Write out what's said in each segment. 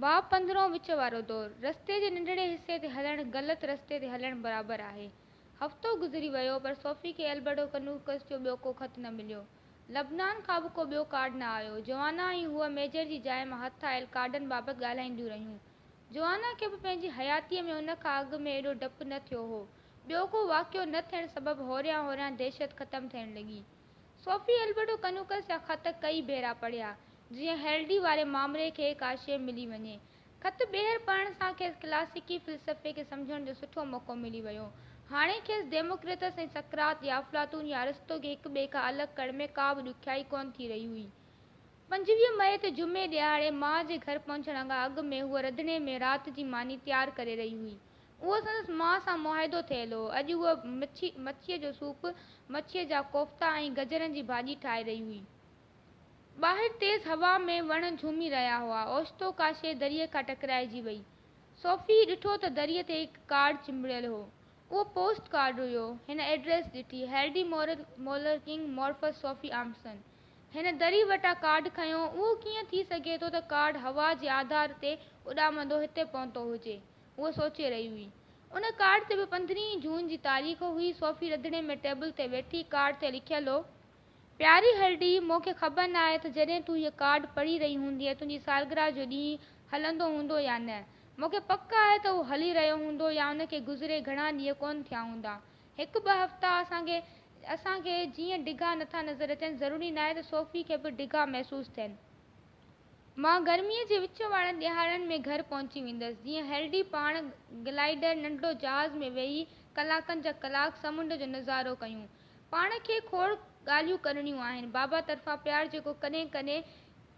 باب پندرهون وچ وارو دور، رستي جي ننڍڙي حصي تي هلڻ غلط رستي تي هلڻ برابر آهي. هفتو گذري ويو پر صوفي کي البرٽو ڪنوڪس جو ٻيو ڪو خط نه مليو. لبنان کان به ڪو ٻيو ڪارڊ نه آيو. جوانا ۽ هوء ميجر جي جاء مان هٿ آيل ڪارڊن بابت ڳالهائينديون رهيون. جوانا کي به پنهنجي حياتيء ۾ ان کان اڳ ۾ ايڏو ڊپ نه ٿيو هو. ٻيو ڪو واقعو نه ٿيڻ سبب هوريان هوريان دهشت ختم ٿيڻ لڳي. صوفي البرٽو ڪنوڪس جا خط ڪئي ڀيرا پڙهيا، جيئن هيلڊي واري مامري کي ڪا شيء ملي وڃي. خط ٻيهر پڙهڻ سان کيس ڪلاسيڪي فلسفي کي سمجهڻ جو سٺو موقعو ملي ويو. هاڻي کيس ديموڪريتس ۽ سقراط يا افلاطون يا ارسطو کي هڪ ٻئي کان الڳ ڪرڻ ۾ ڪا به ڏکيائي ڪونه ٿي رهي هئي. پنجويهه مئي تي جمعي ڏهاڙي ماء جي گهر پهچڻ کان اڳ ۾ هوء رڌڻي ۾ رات جي ماني تيار ڪري رهي هئي. اهو سندس ماء سان معاهدو ٿيل هو. اڄ هوء مڇي، مڇيء جو سوپ، مڇيء جا ڪوفتا ۽ گجرن جي ڀاڄي ٺاهي رهي هئي. ٻاهر تيز هوا ۾ وڻ جهومي رهيا هئا. اوچتو ڪا شيء دريء کان ٽڪرائجي وئي. صوفيء ڏٺو ته دريء تي هڪ ڪارڊ چنبڙيل هو. اهو پوسٽ ڪارڊ هيو. هن ايڊريس ڏٺي، هيرڊي مورن، مولر ڪنگ، مورفس صوفي آمسن. هن دريء وٽان ڪارڊ کنيو. اهو ڪيئن ٿي سگهي ٿو ته ڪارڊ هوا جي آڌار تي اڏامندو هتي پهتو هجي. هوء سوچي رهي هئي. ان ڪارڊ تي به پندرهين جون جي تاريخ هئي. صوفي رڌڻي ۾ ٽيبل تي ويٺي ڪارڊ تي لکيل هو، پياري هرڊي، مون کي خبر نه آهي ته جڏهن تون هيء ڪارڊ پڙهي رهي هوندينء تنهنجي سالگرهه جو ڏينهن هلندو هوندو يا نه. مون کي پڪ آهي ته اهو هلي رهيو هوندو يا ان کي گذري گهڻا ڏينهن ڪونه ٿيا هوندا. هڪ ٻه هفتا اسان کي اسان کي جيئن ڊگها نٿا نظر اچن، ضروري ناهي ته صوفي کي به ڊگها محسوس ٿين. مان گرميء جي وچ وارن ڏيهاڙن ۾ گهر پهچي ويندس، جيئن هيلڊي پاڻ گلائيڊر ننڍڙو جهاز ۾ ويهي ڪلاڪن جا ڪلاڪ سمنڊ جو نظارو ڪيون. پاڻ کي کوڙ ڳالهيون ڪرڻيون آهن. بابا طرفان پيار جيڪو ڪڏهن ڪڏهن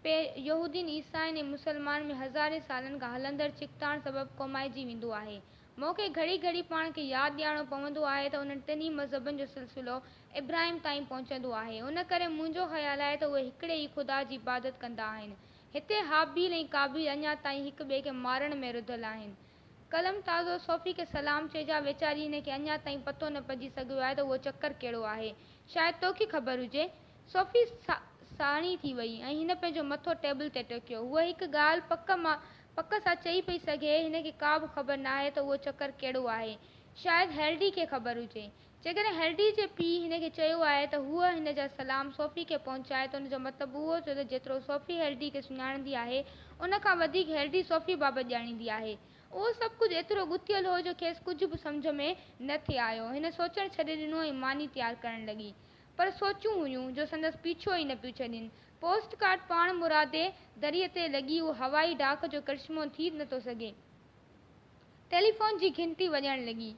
پي يهودين، عيسائين ۽ مسلمانن ۾ هزارين سالن کان هلندڙ ڇڪتاڻ سبب ڪومائجي ويندو آهي. مون کي گهڙي گهڙي پاڻ کي ياد ڏيارڻو پوندو آهي ته انهن ٽنهي مذهبن جو سلسلو ابراهيم تائين پهچندو آهي، ان ڪري منهنجو خيال آهي ته اهي هڪڙي ئي خدا جي عبادت ڪندا آهن. هتي هابيل ۽ قابيل اڃا تائين هڪ ٻئي کي مارڻ ۾ رڌل آهن. قلم تازو صوفي کي سلام چئجي، ويچاري هن کي اڃا تائين پتو نه پئجي سگهيو آهي ته اهو چڪر ڪهڙو آهي. شايد توکي خبر هجي. صوفي ساڻي ٿي وئي ۽ هن پنهنجو مٿو ٽيبل تي ٽڪيو. هوء هڪ ڳالهه پڪ مان پڪ سان چئي پئي سگهي، هن کي ڪابه خبر ناهي ته اهو چڪر ڪهڙو آهي. شايد هيلڊي کي خبر هجي. جيڪڏهن هيرڊي جي پيء هن کي چيو آهي ته هوء هن جا سلام صوفي کي پهچائي ته ان جو مطلب اهو ٿيو ته جيترو صوفي هيرڊي کي سڃاڻيندي آهي ان کان وڌيڪ هيرڊي صوفي بابت ڄاڻيندي آهي. اهو سڀ ڪجهه ايترو ڳٿيل هو جو کيس ڪجهه به سمجهه ۾ نه ٿي آيو. هن سوچڻ ڇڏي ڏنو ۽ ماني تيار ڪرڻ لڳي. پر سوچون هيون جو سندس پيڇو ئي نه پيو ڇڏين. پوسٽ ڪارڊ پاڻمرادي دريء تي لڳي اهو هوائي ڊاڪ جو ڪرشمو ٿي نه ٿو سگهي. ٽيليفون جي گهنٽي وڄڻ لڳي.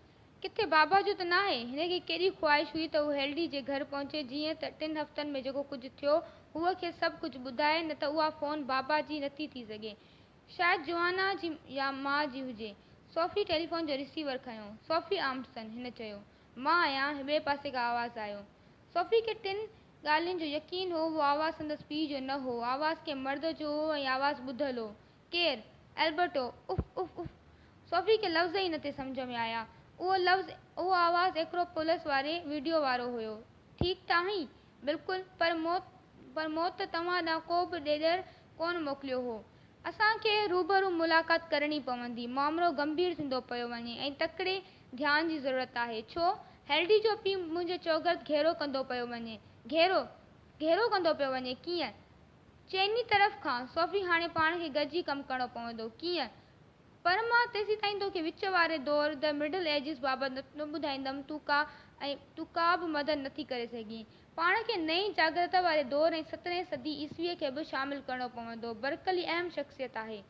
ڪٿي بابا جو ته ناهي؟ هن کي ڪيڏي خواهش هئي ته هو هيلڊي جي گهر پهچي جيئن ته ٽن هفتن ۾ جيڪو ڪجهه ٿيو هوء کيس سڀ ڪجهه ٻڌائي نه ته اها فون بابا جي نٿي ٿي سگهي. شايد جوانا جي يا ماء جي هجي. سوفي ٽيليفون جو ريسيور کنيو. سوفي آمٽسن! هن چيو. مان آهيان. ٻئي پاسي کان آواز آيو. سوفي کي ٽن ڳالهين جو يقين هو. اهو آواز سندس پيء جو نه هو. آواز ڪنهن مرد جو هو ۽ آواز ٻڌل هو. ڪير؟ البرٽو، اف اف اف. صوفي کي لفظ ئي نه ٿي سمجهه ۾ آيا. اهو لفظ، اهو آواز ايڪرو پولس واري وڊيو وارو هيو. ٺيڪ ته آهين؟ بلڪل. پر موت، پر موت ته توهان ڏانهن ڪو به ڏيڏر ڪونه موڪليو هو. اسان کي روبرو ملاقات ڪرڻي پوندي. مامرو گنڀير ٿيندو پيو وڃي ۽ تڪڙي ڌيان جي ضرورت آهي. ڇو؟ هيلڊي جو پيء منهنجي چوگرد گهيرو ڪندو پيو وڃي. گهيرو؟ گهيرو ڪندو پيو وڃي؟ ڪيئن؟ چئني طرف کان، صوفي هاڻي پاڻ کي گڏجي ڪم ڪرڻو پوندو. ڪيئن؟ پر مان تيسيتائين توکي وچ واري دور، The Middle Ages، بابت نه ٻڌائيندم، تون ڪا ۽ تون ڪا به مدد نٿي ڪري سگهين. پاڻ کي نئين جاڳرتا واري دور ۽ سترهين صدي عيسويء کي به شامل ڪرڻو پوندو. برڪلي اهم شخصيت آهي.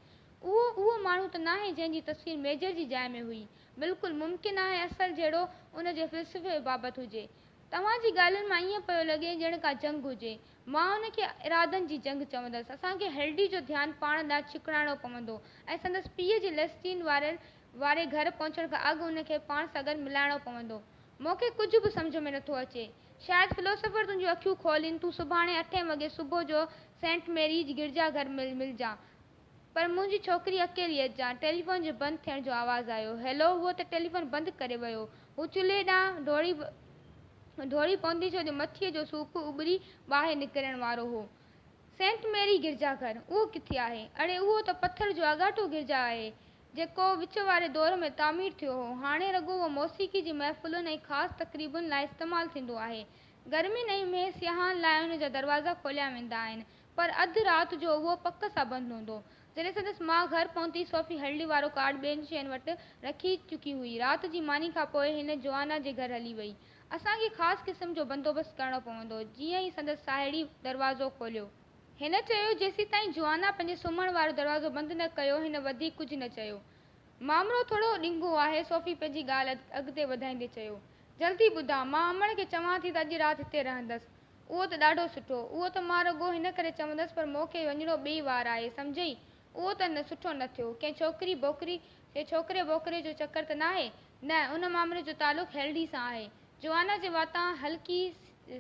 اهو اهو ماڻهو ته ناهي جنهن جي تصوير ميجر جي جاء ۾ هئي. بلڪل ممڪن آهي اصل جهيڙو ان جي فلسفي بابت هجي. توهان جي ڳالهين مان ائين پيو لڳي ڄڻ ڪا جنگ هجي. مان ان کي ارادن جي جنگ چوندس. اسان کي هيلڊي جو ڌيان پاڻ ڏانهن ڇڪڙائڻو پوندو ۽ سندس پيء جي ليسٽين وارن واري گهر پهچڻ کان اڳ هن کي پاڻ ساڳن ملائڻو پوندو. مون کي ڪجهه به سمجهه ۾ نٿو اچي. شايد فلوسوفر تنهنجون اکيون کولين تون سڀاڻي اٺين وڳي صبح جو سينٽ ميريج گرجا گهر ۾ ملجان. پر منهنجي ڇوڪري اڪيلي اچان، ٽيليفون جي بند ٿيڻ جو آواز آيو. هيلو، هو ته ٽيليفون بند ڪري ويو. هو چلهي ڏانهن ڊوڙي ڊوڙي پوندي ڇو جو مٿيء جو سوڪ اٻري ٻاهر نڪرڻ وارو هو. سينٽ ميري گرجا گهر، اهو ڪٿي آهي؟ اڙي اهو ته پٿر جو آڳاٽو گرجا آهي، جيڪو وچ واري دور ۾ تعمير ٿيو هو. هاڻي رڳو اهو موسيقي جي محفلن ۽ خاص تقريبن لاء استعمال ٿيندو آهي. گرمين ۽ مينهن سياحن لاء ان جا دروازا کوليا ويندا آهن. پر اڌ رات جو اهو پڪ سان بند هوندو. جڏهن سندس ماء گهر پهتي صوفي هلڙي وارو ڪارڊ ٻين شين وٽ رکي چڪي هئي. رات جي ماني کان پوء هن جوانا جي گهر هلي وئي. اسان کي خاص قسم جو بندوبست ڪرڻو پوندو. جيئن ئي سندس ساهيڙي دروازو کوليو. هن چيو جيسيتائين جوانا پنهنجي سمهڻ وارو دروازو بند نه ڪيو هن وڌيڪ ڪجهه نه چيو. مامرو ٿورو ڏنگهو آهي صوفي پنهنجي ڳالهه اڳتي وڌائيندي چيو. جلدي ٻڌاء مان امڙ کي چوان ٿي ته اڄ رات هتي رهندس. اهو ته ڏاڍو سٺو. اهو ته مان رڳو هن ڪري چوندس پر مون کي وڃڻو ٻئي وار آهي، سمجهيئي؟ اهو ته نه سٺو نه ٿيو. ڪنهن ڇوڪري بوڪري يا ڇوڪري ٻوڪري جو چڪر ته ناهي؟ نه، ان معاملي جو تعلق هيلڊي سان آهي. جوانا جي واتان هلڪي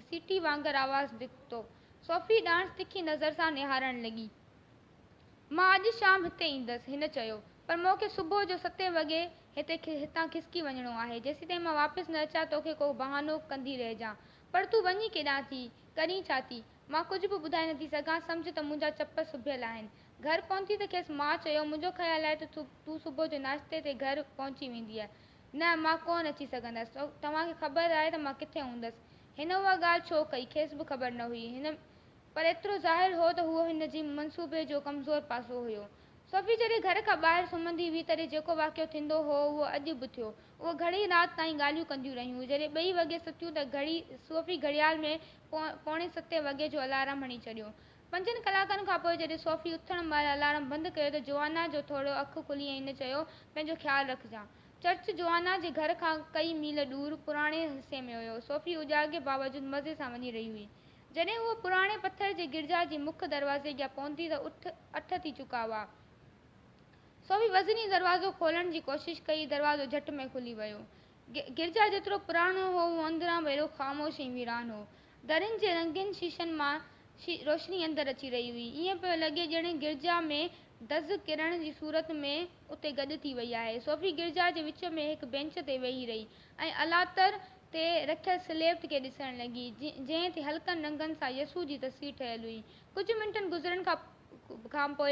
سيٽي وانگر آواز نڪتو. صوفي ڏانهس تکي نظر سان نهارڻ لڳي. مان اڄ شام هتي ايندس. هن چيو. پر مون کي صبح جو ستين وڳي هتي هتان کسڪي وڃڻو آهي. جيسيتائين مان واپس نه اچان توکي ڪو بهانو ڪندي رهجان. پر تون وڃين ڪيڏانهن ٿي؟ ڪرين ڇا ٿي؟ مان ڪجهه به ٻڌائي نٿي سگهان، سمجهه ته منهنجا چپ سڀيل آهن. گهر پهتي ته کيس مان چيو، منهنجو خيال آهي ته تون صبح جو ناشتي تي گهر پهچي ويندينء. نه، مان ڪونه اچي سگهندس. توهان کي خبر آهي ته مان ڪٿي هوندس. هن اها ڳالهه ڇو ڪئي، کيس به خبر نه هئي. پر ايترو ظاهر هو ته اهو هن جي منصوبي جو ڪمزور پاسو هيو. صوفي جڏهن گهر کان ٻاهر سمهندي هئي تڏهن جيڪو واقعو ٿيندو هو اهو اڄ به ٿيو. اهي گهڻي رات تائين ڳالهيون ڪنديون رهيون. جڏهن ٻئي وڳي ستيون ته گهڙي صوفي گهڙيال ۾ پوڻي ستين وڳي جو الارم هڻي ڇڏيو. پنجن ڪلاڪن کان پوء جڏهن صوفي اٿڻ مهل الارم بند ڪيو ته جوانا جو ٿورڙو اک کلي ۽ هن چيو، پنهنجو خيال رکجان. چرچ جوانا جي گهر کان ڪئي ميل ڏور پراڻي حصي ۾ هيو. صوفي اجاڳي باوجود مزي سان وڃي رهي هئي. جڏهن هو پراڻي پٿر جي گرجا جي مک دروازي اڳيان پهتي ته اٺ اٺ ٿي چڪا هئا. سو به وزني دروازو کولڻ جي ڪوشش ڪئي، دروازو جهٽ ۾ کلي ويو. گرجا جيترو پراڻو هو، اهو اندران به اهڙو خاموش ۽ ويران هو. درين جي رنگين شيشن مان روشني اندر اچي رهي هئي. ائين پيو لڳي ڄڻ گرجا ۾ دز ڪرڻ جي صورت ۾ اتي گڏ ٿي وئي آهي. صوفي گرجا جي وچ ۾ هڪ بينچ تي ويهي رهي. ۽ الاتر تي رکيل سليبٽ کي ڏسڻ لڳي، جنهن تي هلڪن رنگن سان يسوع جي تصوير ٺهيل هئي. ڪجهه منٽن گذرڻ کان پوء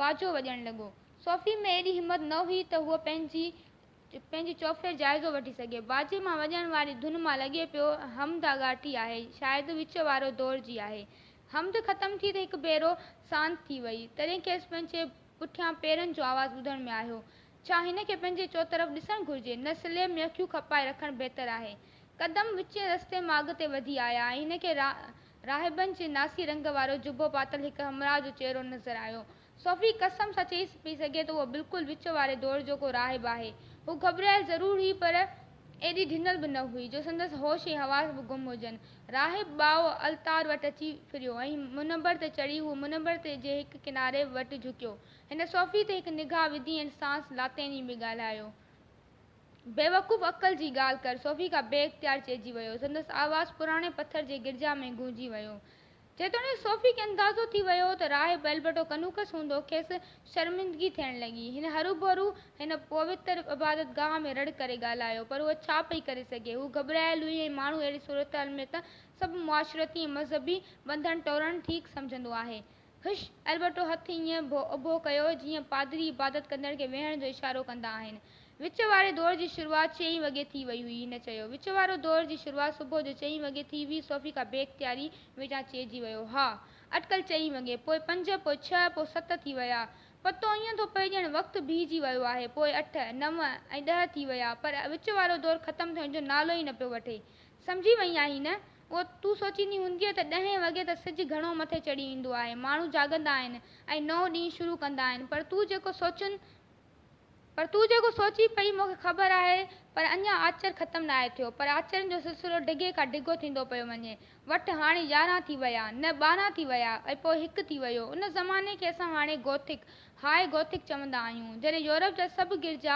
باجو وڄڻ لڳو. صوفي ۾ ايڏي همت نه هئي ته هوء پنهنجي چوڦير جائزو وٺي سگهي. باجي مان وڄڻ واري ڌن مان لڳي پيو، حمد آڳاٽي آهي، شايد وچ وارو دور جي آهي. حمد ختم ٿي ته هڪ ڀيرو سانت ٿي وئي، تڏهن کيس پنهنجي پٺيان پيرن جو آواز ٻڌڻ ۾ آيو، ڇا هن کي پنهنجي چوطرف ڏسڻ گهرجي؟ نه سليب ۾ اکيون کپائي رکڻ بهتر آهي. قدم وچين رستي مان اڳتي وڌي آيا ۽ هن کي راهبن جي ناسي رنگ وارو جبو پاتل هڪ همراهه جو چهرو نظر آيو. صوفي قسم سان چئي پئي سگهي ته اهو بلڪل وچ واري دور جو ڪو راهب آهي. هوء گهٻرايل ضرور هئي پر ايڏي ڍنل به نه هئي جو سندس هوش ۽ حواس به گم هجن. راهب ٻائو التار وٽ اچي ڦريو ۽ منبر تي چڙهي هو منبر جي هڪ ڪناري وٽ جهڪيو. هن صوفي تي هڪ نگاهه وڌي ۽ ساڻس لاطيني ۾ ڳالهايو. بيوقوف عقل جي ڳالهه ڪر! صوفي کان بي اختيار چئجي ويو. سندس آواز پراڻي پٿر جي گرجا ۾ گونجي ويو. جيتوڻيڪ صوفي کي اندازو ٿي ويو هو ته راهب البرٽو ڪنوڪس هوندو، کيس شرمندگي ٿيڻ لڳي. هن هروڀرو هن پوتر عبادتگاهه ۾ رڙ ڪري ڳالهايو، پر هوء ڇا پئي ڪري سگهي؟ هوء گهٻرايل هئي ۽ ماڻهو اهڙي صورتحال ۾ ته سڀ معاشرتي ۽ مذهبي ٻنڌڻ ٽوڙڻ ٺيڪ سمجهندو آهي. هش! البرٽو هٿ ائين اڀو ڪيو، جيئن پادري عبادت ڪندڙ کي ويهڻ جو اشارو ڪندا آهن. وچ واري دور جي شروعات چئين وڳي ٿي وئي هئي. هن چيو. وچ وارو دور جي شروعات صبح جو چئين وڳي ٿي هئي. صوفي کان بي اختياري ويجهان چئجي ويو. ها! اٽڪل چئين وڳي. پوء پنج، پوء ڇهه، پوء ست ٿي ويا. پتو ائين ٿو پئي ڄڻ وقت بيهجي ويو آهي. پوء اٺ، نو ۽ ڏهه ٿي ويا. پر وچ وارو دور ختم ٿيڻ جو نالو ئي نه پيو وٺي. سمجهي وئين آهين نه؟ پوء تون سوچيندي هوندينء ته ڏهين وڳي ته سج گهڻو مٿي چڙهي ايندو آهي، ماڻهو جاڳندا آهن ۽ نئون ڏينهن شروع ڪندا آهن، پر تون جيڪو سوچين پر تون جيڪو سوچين پئي مون کي خبر آهي، پر اڃا آچر ختم ناهي ٿيو، پر آچرن جو سلسلو ڊگهي کان ڊگهو ٿيندو پيو وڃي، وٺ هاڻي يارهن ٿي ويا، نه ٻارهن ٿي ويا ۽ پوء هڪ ٿي ويو، ان زماني کي اسان هاڻي گوٿڪ، High Gothic، چوندا آهيون، جڏهن يورپ جا سڀ گرجا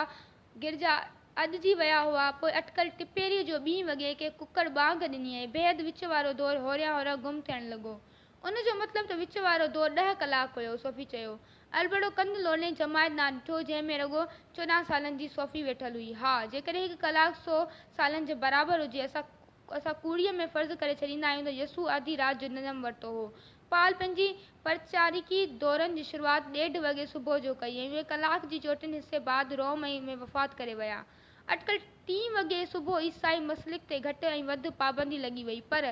گرجا اڄ جي ويا هئا، پوء اٽڪل ٽپيريء جو ٻين وڳي ڪنهن ڪڪڙ ٻانگ ڏني ۽ بيحد وچ وارو دور هوريان هوران گم ٿيڻ لڳو. ان جو مطلب ته وچ وارو دور ڏهه ڪلاڪ هيو، صوفي چيو. البڙو ڪنڌ لوڏي جماعت ڏانهن ڏٺو، جنهن ۾ رڳو چوڏهن سالن جي صوفي ويٺل هئي. ها، جيڪڏهن هڪ ڪلاڪ سو سالن جي برابر هجي، اسان اسان ڪوڙيء ۾ فرض ڪري ڇڏيندا آهيون ته يسوع آڌي رات جو جنم ورتو هو، پال پنهنجي پرچاريڪي دورن جي شروعات ڏيڍ وڳي صبح جو ڪئي ۽ اهي ڪلاڪ جي چوٽين حصي بعد روم ۽ ۾ وفات ڪري ويا. اٽڪل ٽين وڳي صبح عيسائي مسلڪ تي گهٽ ۽ وڌ پابندي لڳي وئي پر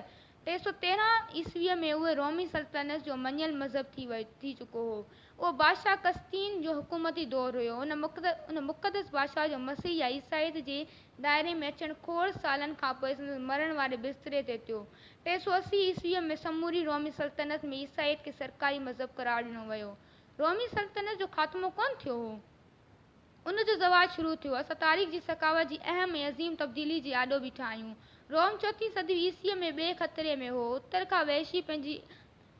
ٽي سؤ تيرنهن عيسويء ۾ اهو رومي سلطنت جو مڃيل مذهب ٿي ٿي چڪو هو. اهو بادشاهه قسطين جو حڪومتي دور هيو. ان مقدس بادشاهه جو مسيح يا عيسائيت جي دائري ۾ اچڻ کوڙ سالن کانپوء سندس مرڻ واري بستري تي ٿيو. ٽي سؤ اسي عيسويء ۾ سموري رومي سلطنت ۾ عيسائيت کي سرڪاري مذهب قرار ڏنو ويو. رومي سلطنت جو خاتمو ڪونه ٿيو هو. ان جو زوال شروع ٿيو. اسان تاريخ جي سخاوت جي اهم ۽ عظيم تبديلي جي آڏو بيٺا آهيون. روم چوٿين صدي عيسويء ۾ ٻئي خطري ۾ هو. اتر کان وحشي پنهنجي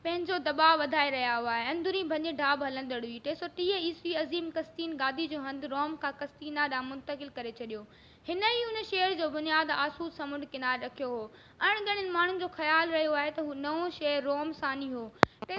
پنهنجو دٻاء وڌائي رهيا هئا ۽ اندرين ڀڃ ڍاٻ هلندڙ هئي. ٽي سؤ ٽيهه عيسوي عظيم قسطين گادي جو هنڌ روم کان قسطينا ڏانهن منتقل ڪري ڇڏيو. هن ئي ان شهر جو بنياد آسود سمنڊ ڪناري رکيو هو. اڻ ڳڻين ماڻهن جو خيال رهيو آهي ته هو نئون شهر روم ثاني هو. ٽي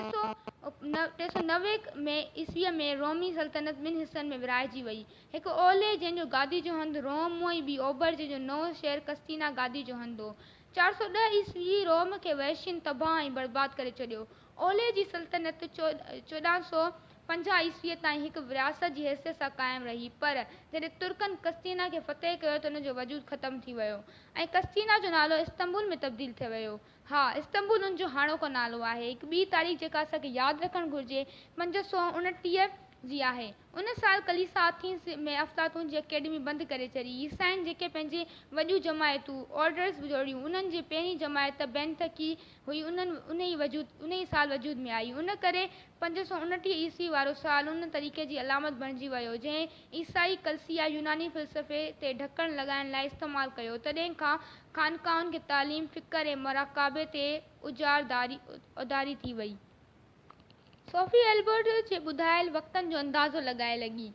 سؤ نوي ۾ عيسويء ۾ رومي سلطنت ٻن حصن ۾ ورهائجي وئي. هڪ اولهه جنهن جو گادي جو هنڌ روم هو ۽ ٻي اوڀر جنهن جو نئون شهر قسطينا گادي جو هنڌ هو. چار سؤ ڏهه عيسوي روم کي وحشين تباهه ۽ برباد ڪري ڇڏيو. اولهه جي سلطنت چوڏهن سؤ پنجاهه عيسويء تائين هڪ رياست جي حيثيت سان قائم رهي، پر جڏهن ترڪن قسطينه کي فتح ڪيو ته ان جو وجود ختم ٿي ويو ۽ قسطينه جو نالو استنبول ۾ تبديل ٿي ويو. ها، استنبول ان جو هاڻوڪو نالو آهي. هڪ ٻي تاريخ جيڪا اسان کي ياد رکڻ گهرجي پنج سؤ اڻٽيهه جي آهي. ان سال ڪليسا آٿينز ۾ افلاطون جي اڪيڊمي بند ڪري ڇڏي. عيسائين جيڪي پنهنجي وڏيون جماعتون، Orders، جوڙيون، انهن جي پهرين جماعت بينتڪي هئي، انهيء سال وجود ۾ آئي. ان ڪري پنج سؤ انٽيهه عيسوي وارو سال ان طريقي جي علامت بڻجي ويو، جنهن عيسائي ڪلسيا يوناني فلسفي تي ڍڪڻ لڳائڻ لاء استعمال ڪيو. تڏهن کان خانقاهن کي تعليم، فڪر ۽ مراقبي تي اجاراداري اڌاري ٿي وئي. صوفي البرٽ جي ٻڌايل وقتن جو اندازو لڳائي لڳي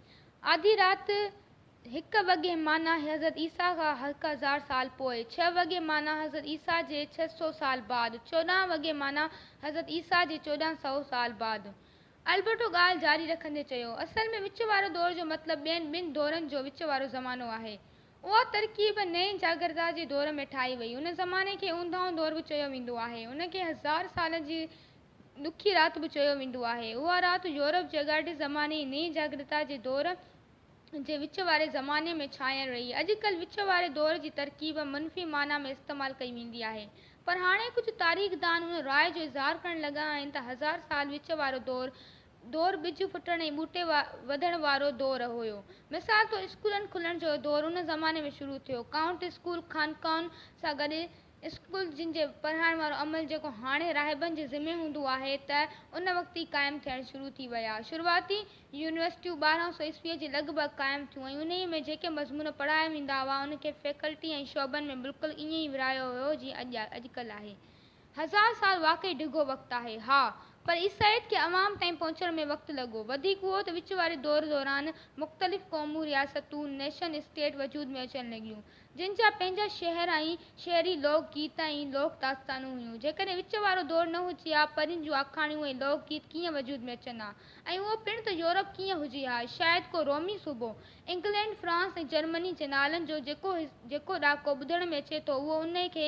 آڌي رات هڪ وڳي معنيٰ حضرت عيسيٰ کان هڪ هزار سال پوء، ڇهه وڳي معنيٰ حضرت عيسيٰ جي ڇهه سؤ سال بعد، چوڏهن وڳي معنيٰ حضرت عيسيٰ جي چوڏهن سؤ سال بعد. البرٽو ڳالهه جاري رکندي چيو، اصل ۾ وچ وارو دور جو مطلب ٻين ٻن دورن جو وچ وارو زمانو آهي. اها ترڪيب نئين جاگرتا جي دور ۾ ٺاهي وئي. ان زماني کي اونداهون دور به چيو ويندو آهي. ان کي هزار سالن جي ڏکي رات به چيو ويندو آهي. اها رات يورپ جي اڳاٽي زماني ۽ نئين جاڳرتا جي دور جي وچ واري زماني ۾ ڇانيل رهي. اڄڪلهه وچ واري دور جي ترڪيب منفي معنيٰ ۾ استعمال ڪئي ويندي آهي. پر هاڻي ڪجهه تاريخدان ان راء جو اظهار ڪرڻ لڳا آهن ته هزار سال وچ وارو دور دور ٻج ڦٽڻ ۽ ٻوٽي وڌڻ وارو دور هيو. مثال طور اسڪولن کلڻ جو دور ان زماني ۾ شروع ٿيو. ڪائونٽ اسڪول خانقاهن سان گڏ اسڪول جن جي پڙهائڻ وارو عمل جيڪو هاڻي راهبن جي ذمي هوندو آهي ته ان وقت ئي قائم ٿيڻ شروع ٿي ويا. شروعاتي يونيورسٽيون ٻارهن سؤ عيسويء جي لڳ ڀڳ قائم ٿيون ۽ انهيء ۾ جيڪي مضمون پڙهايا ويندا هئا ان کي فيڪلٽي ۽ شعبن ۾ بلڪل ائين ئي ورهايو ويو جيئن اڄ اڄڪلهه آهي. هزار سال واقعي ڊگهو وقت آهي. ها پر عيسائيت کي عوام تائين پهچڻ ۾ وقت لڳو. وڌيڪ اهو ته وچ واري دور دوران مختلف قومون، رياستون، Nation State، وجود ۾ اچڻ لڳيون. جن جا پنهنجا شعر ۽ شعري لوڪ گيت ۽ لوڪ داستانون هيون. جيڪڏهن وچ وارو دور نه هجي ها، پرين جون آکاڻيون ۽ لوڪ گيت ڪيئن وجود ۾ اچن ها ۽ اهو پڻ ته يورپ ڪيئن هجي ها، شايد ڪو رومي صوبو، انگلينڊ، فرانس ۽ جرمني جي نالن جو جيڪو جيڪو ڏاڪو ٻڌڻ ۾ اچي ٿو اهو انهي کي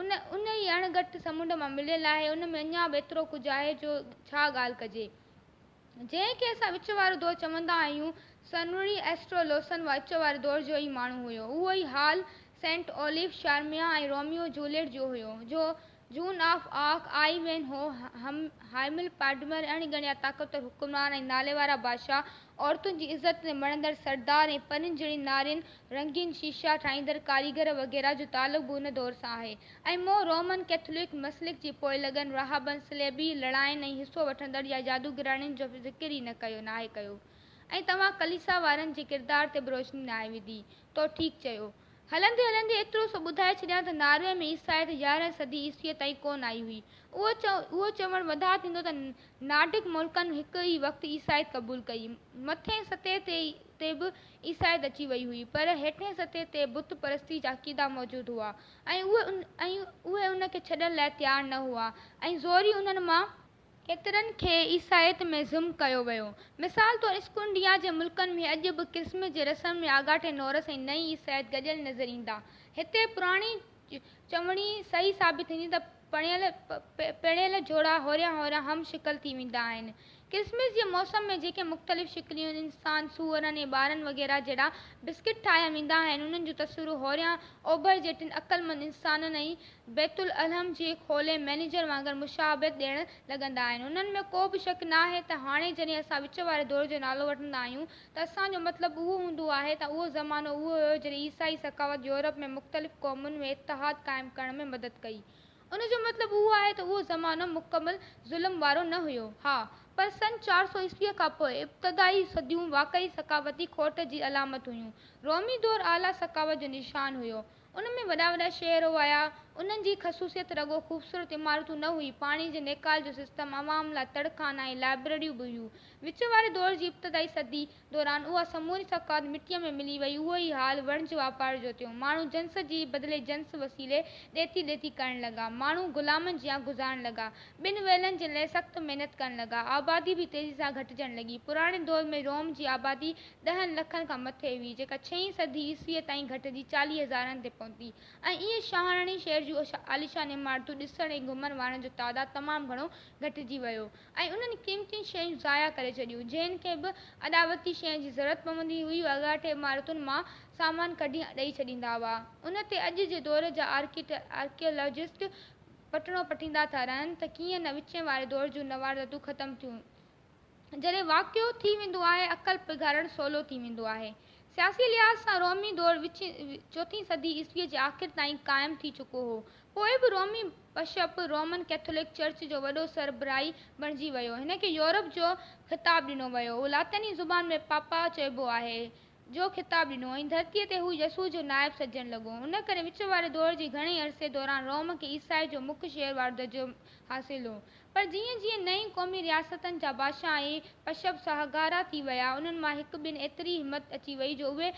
ان انهي اڻ ڳٺ سمنڊ مان مليل آهي، ان ۾ اڃا به ايترو ڪجهه آهي جو ڇا ڳالهه ڪجي. جنهن کي اسان وچ وارو دور چوندا آهيون، سنوري ايسٽرو لوسن وان وچ واري دور جو ئي ماڻهو هيو. اهو ئي حال سينٽ اوليف، شارميا ۽ روميو جوليٽ جو هيو، جو Joan of Arc, Ivanhoe, هائمل پاڊمر، اڻ ڳڻيا طاقتور حڪمران ۽ ناليوارا بادشاهه، عورتن جي عزت تي مڙندڙ سردار ۽ پرين جهڙين نارين، رنگين شيشا ٺاهيندڙ ڪاريگر وغيره جو تعلق به ان دور سان آهي. ۽ مون رومن ڪئٿولڪ مسلڪ جي پوئلڳن، راهبن، صليبي لڙائين ۽ حصو وٺندڙ يا جادوگرڻين جو ذڪر ئي نه ڪيو ناهي ڪيو. ۽ توهان ڪليسا وارن جي ڪردار تي به روشني ناهي وڌي. تو ٺيڪ چيو. هلندي هلندي ايترو سو ٻڌائي ڇڏيان ته ناروي ۾ عيسائيت يارهين صدي عيسويء تائين ڪونه آئي هئي. اهو چوڻ وڌاء ٿيندو ته نارڊڪ ملڪن هڪ ئي وقت عيسائيت قبول ڪئي. مٿئين سطح تي به عيسائيت اچي وئي هئي پر هيٺئين سطح تي بت پرستيء جا عقيدا موجود هئا. ۽ اهي ان کي ڇڏڻ لاء تيار نه هئا ۽ زوري انهن مان ڪيترن کي عيسائيت ۾ ضم ڪيو ويو. مثال طور اسڪنڊيا جي ملڪن ۾ اڄ به ڪرسمس جي رسم ۾ آڳاٽي نورس ۽ نئين عيسائيت گڏيل نظر ايندا. هتي پراڻي چوڻي صحيح ثابت ٿيندي ته پڻيل پيڙهيل جوڙا هوريان هوريان هم شڪل ٿي ويندا آهن. ڪرسمس جي موسم ۾ جيڪي مختلف شڪليون انسان، سوئرن ۽ ٻارن وغيره جهڙا بسڪٽ ٺاهيا ويندا آهن، انهن جو تصويرون هوريان اوڀر جي ٽن عقلمند انسانن ۽ بيت العلم جي کولي مئنيجر وانگر مشابهت ڏيڻ لڳندا آهن. انهن ۾ ڪو به شڪ ناهي ته هاڻي جڏهن اسان وچ واري دور جو نالو وٺندا آهيون تسان جو مطلب اهو هوندو آهي ته اهو زمانو اهو هيو جڏهن عيسائي ثقافت يورپ ۾ مختلف قومن ۾ اتحاد قائم ڪرڻ ۾ مدد ڪئي. ان جو مطلب اهو آهي ته اهو زمانو مڪمل ظلم وارو نه هيو. ها پر سن چار سؤ عيسويء کان پوء ابتدائي صديون واقعي ثقافتي کوٽ جي علامت هيون. رومي دور اعليٰ ثقافت جو نشان هيو. ان ۾ وڏا وڏا شهر هئايا. انهن جي خصوصيت رڳو خوبصورت عمارتون نه هئي، پاڻي جي نيڪال جو سسٽم، عوام لاء تڙ خانا ۽ لائبريريون به هيون. وچ واري دور جي ابتدائي صدي دوران اها سموري ثقافت مٽيء ۾ ملي وئي. اهو ئي حال وڻج واپار جو ٿيو. ماڻهو جنس جي بدلي جنس وسيلي ڏيتي ليتي ڪرڻ لڳا. ماڻهو غلامن جيان گذارڻ لڳا. ٻن ويلن جي لئه سخت محنت ڪرڻ لڳا. آبادي به تيزي سان گهٽجڻ لڳي. پراڻي دور ۾ روم جي آبادي ڏهن لکن کان مٿي هئي، جيڪا ڇهين صدي عيسويء تائين گهٽجي چاليهه هزارن تي پهتي ۽ ايئن شاهراڻي شهر جون عاليشان عمارتون ڏسڻ ۽ گهمڻ وارن جو تعداد تمام گهڻو گهٽجي ويو ۽ انهن قيمتين شين ضايع ڪري ڇڏيون، جنهن کي به اڏاوتي شين جي ضرورت پوندي هئي، اهي اڳاٽي عمارتن مان سامان ڪڍي ڏئي ڇڏيندا هئا. ان تي اڄ جي دور جا آرڪيالاجسٽ پٽڻو پٽيندا ٿا رهن ته ڪيئن نه وچين واري دور جون نواردتون ختم ٿيون ۽ جڏهن واقعو ٿي ويندو آهي، عقل پگهارڻ سولو ٿي ويندو آهي. سياسي لحاظ سان رومي دور وچين چوٿين صدي عيسويء جي آخر تائين قائم ٿي چڪو هو. پوء به رومي بشپ رومن ڪيٿولڪ چرچ جو وڏو سربراهي بڻجي ويو. هن کي يورپ جو خطاب ڏنو ويو. هو لاطيني زبان ۾ پاپا چئبو آهي. جو خطاب ڏنو ۽ ڌرتيء تي هو يسوع جو نائب سڏجڻ لڳو. ان ڪري وچ واري دور جي گهڻي عرصي دوران روم کي عيسائيت جو مک شهر وارو درجو حاصل هو. پر جيئن جيئن نئين قومي رياستن جا بادشاهه ۽ بشپ ساهگارا ٿي ويا، انهن مان هڪ ٻن ايتري همت اچي وئي جو اهي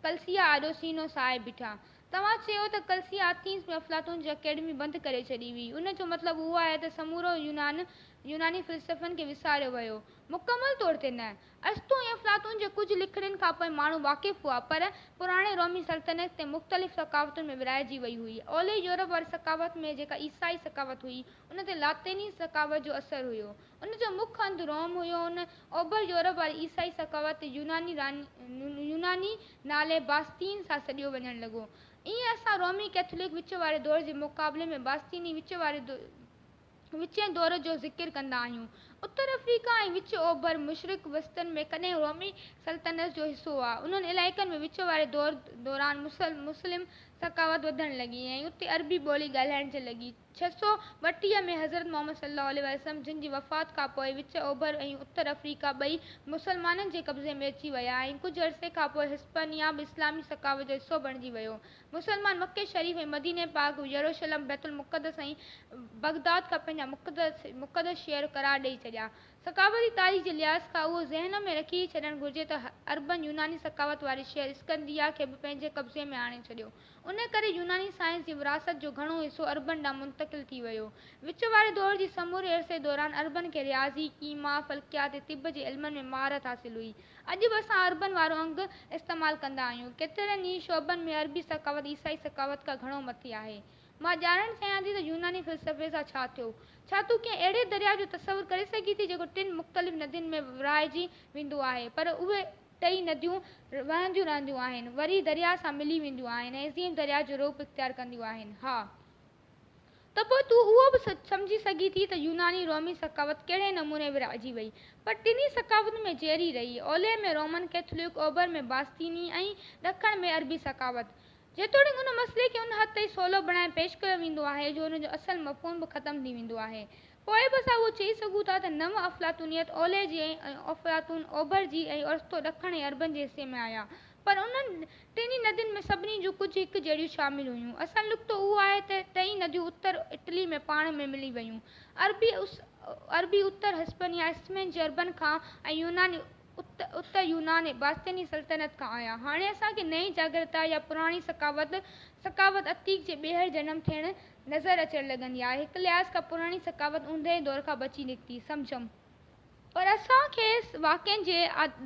ڪلسيا آڏو سينو سائي بيٺا. توهان چيو ته ڪلسيا آٿينس ۾ افلاطون جي اڪيڊمي بند ڪري ڇڏي هئي. ان جو مطلب اهو آهي ته سمورو يونان يوناني فلسفن کي وساريو ويو؟ مڪمل طور تي نه. ارسطو ۽ افلاطون جي ڪجهه لکڻين کان پوء ماڻهو واقف هئا، پر پراڻي رومي سلطنت تي مختلف ثقافتن ۾ ورهائجي وئي هئي. اولهه يورپ واري ثقافت ۾ جيڪا عيسائي ثقافت هئي، ان تي لاطيني ثقافت جو اثر هيو. ان جو مک هنڌ روم هيو ۽ اوڀر يورپ واري عيسائي ثقافت تي يوناني نالي باسطين سان سڏيو وڃڻ لڳو. ائين اسان رومي ڪئٿولڪ وچ واري دور جي مقابلي ۾ باسطيني وچ واري وچين دور جو ذڪر ڪندا آهيون. اتر آفريڪا ۽ وچ اوڀر مشرق وسطن ۾ ڪڏهن رومي سلطنت جو حصو هئا. انهن علائقن ۾ وچ واري دور دوران مسلم ثقافت وڌڻ لڳي ۽ اتي عربي ٻولي ڳالهائجڻ لڳي. ڇهه سؤ ٻٽيهه ۾ حضرت محمد صلي الله عليه وسلم جن جي وفات کان پوء وچ اوڀر ۽ اتر آفريڪا ٻئي مسلمانن جي قبضي ۾ اچي ويا ۽ ڪجهه عرصي کان پوء هسپانيا به اسلامي ثقافت جو حصو بڻجي ويو. مسلمان مڪي شريف ۽ مديني پاڪ، يروشلم، بيت المقدس ۽ بغداد کان پنهنجا مقدس مقدس شهر قرار ڏئي ڇڏيا. ثقافتي تاريخ جي لحاظ کان اهو ذهن ۾ رکي ڇڏڻ گهرجي ته عربن يوناني ثقافت واري شهر اسڪندريه کي به پنهنجي قبضي ۾ آڻي ڇڏيو. ان ڪري يوناني سائنس جي وراثت جو گهڻو حصو عربن ڏانهن منتقل ٿي ويو. وچ واري دور جي سموري عرصي دوران عربن کي رياضي، ڪيما، فلڪيات ۽ طب جي علمن ۾ مهارت حاصل هئي. اڄ به اسان عربن وارو انگ استعمال ڪندا آهيون. ڪيترن ئي شعبن ۾ عربي ثقافت عيسائي ثقافت کان گهڻو مٿي آهي. مان ڄاڻڻ چاهيان ٿي ته يوناني فلسفي سان ڇا ٿيو؟ ڇا تون ڪنهن اهڙي درياء جو تصور ڪري سگهين ٿي جيڪو ٽن مختلف ندين ۾ ورهائجي ويندو آهي پر اهي ٽئي نديون وهنديون رهنديون آهن وري درياء سان ملي وينديون آهن ۽ عظيم درياء جو روپ اختيار ڪنديون آهن؟ ها! ته پوء تون اهو به سمجهي سگهين ٿي ته يوناني رومي ثقافت ڪهڙي نموني ورهائجي وئي. پر ٽنهي ثقافتن ۾ جهيري رهي. اولهه ۾ رومن ڪيٿولڪ، اوڀر ۾ باسطيني ۽ ڏکڻ ۾ عربي ثقافت. جيتوڻيڪ ان مسئلي کي ان حد تائين سولو بڻائي پيش ڪيو ويندو آهي جو ان جو اصل مفهوم به ختم ٿي ويندو آهي. پوء به اسان اهو چئي سگهون ٿا ته نو افلاطونيت اولهه جي ۽ افلاطون اوڀر جي ۽ ارسطو ڏکڻ ۽ عربن جي حصي ۾ آيا. پر انهن ٽنهي ندين ۾ سڀني جون ڪجهه هڪ جهڙيون شامل هيون. اصل نڪتو اهو آهي ته ٽئي نديون اتر اٽلي ۾ پاڻ ۾ ملي ويون. عربي عربي اتر هسپنيا، اسپين، جي عربن کان ۽ يوناني اتر يونان ۽ باسطيني سلطنت کان آيا. هاڻي اسان کي نئين جاگرتا يا پراڻي ثقافت ثقافت عتيق جي ٻيهر جنم ٿيڻ نظر اچڻ لڳندي آهي. هڪ لحاظ کان پراڻي ثقافت اوندهه دور کان بچي نڪتي، سمجهيم. پر اسان کي واقعن جي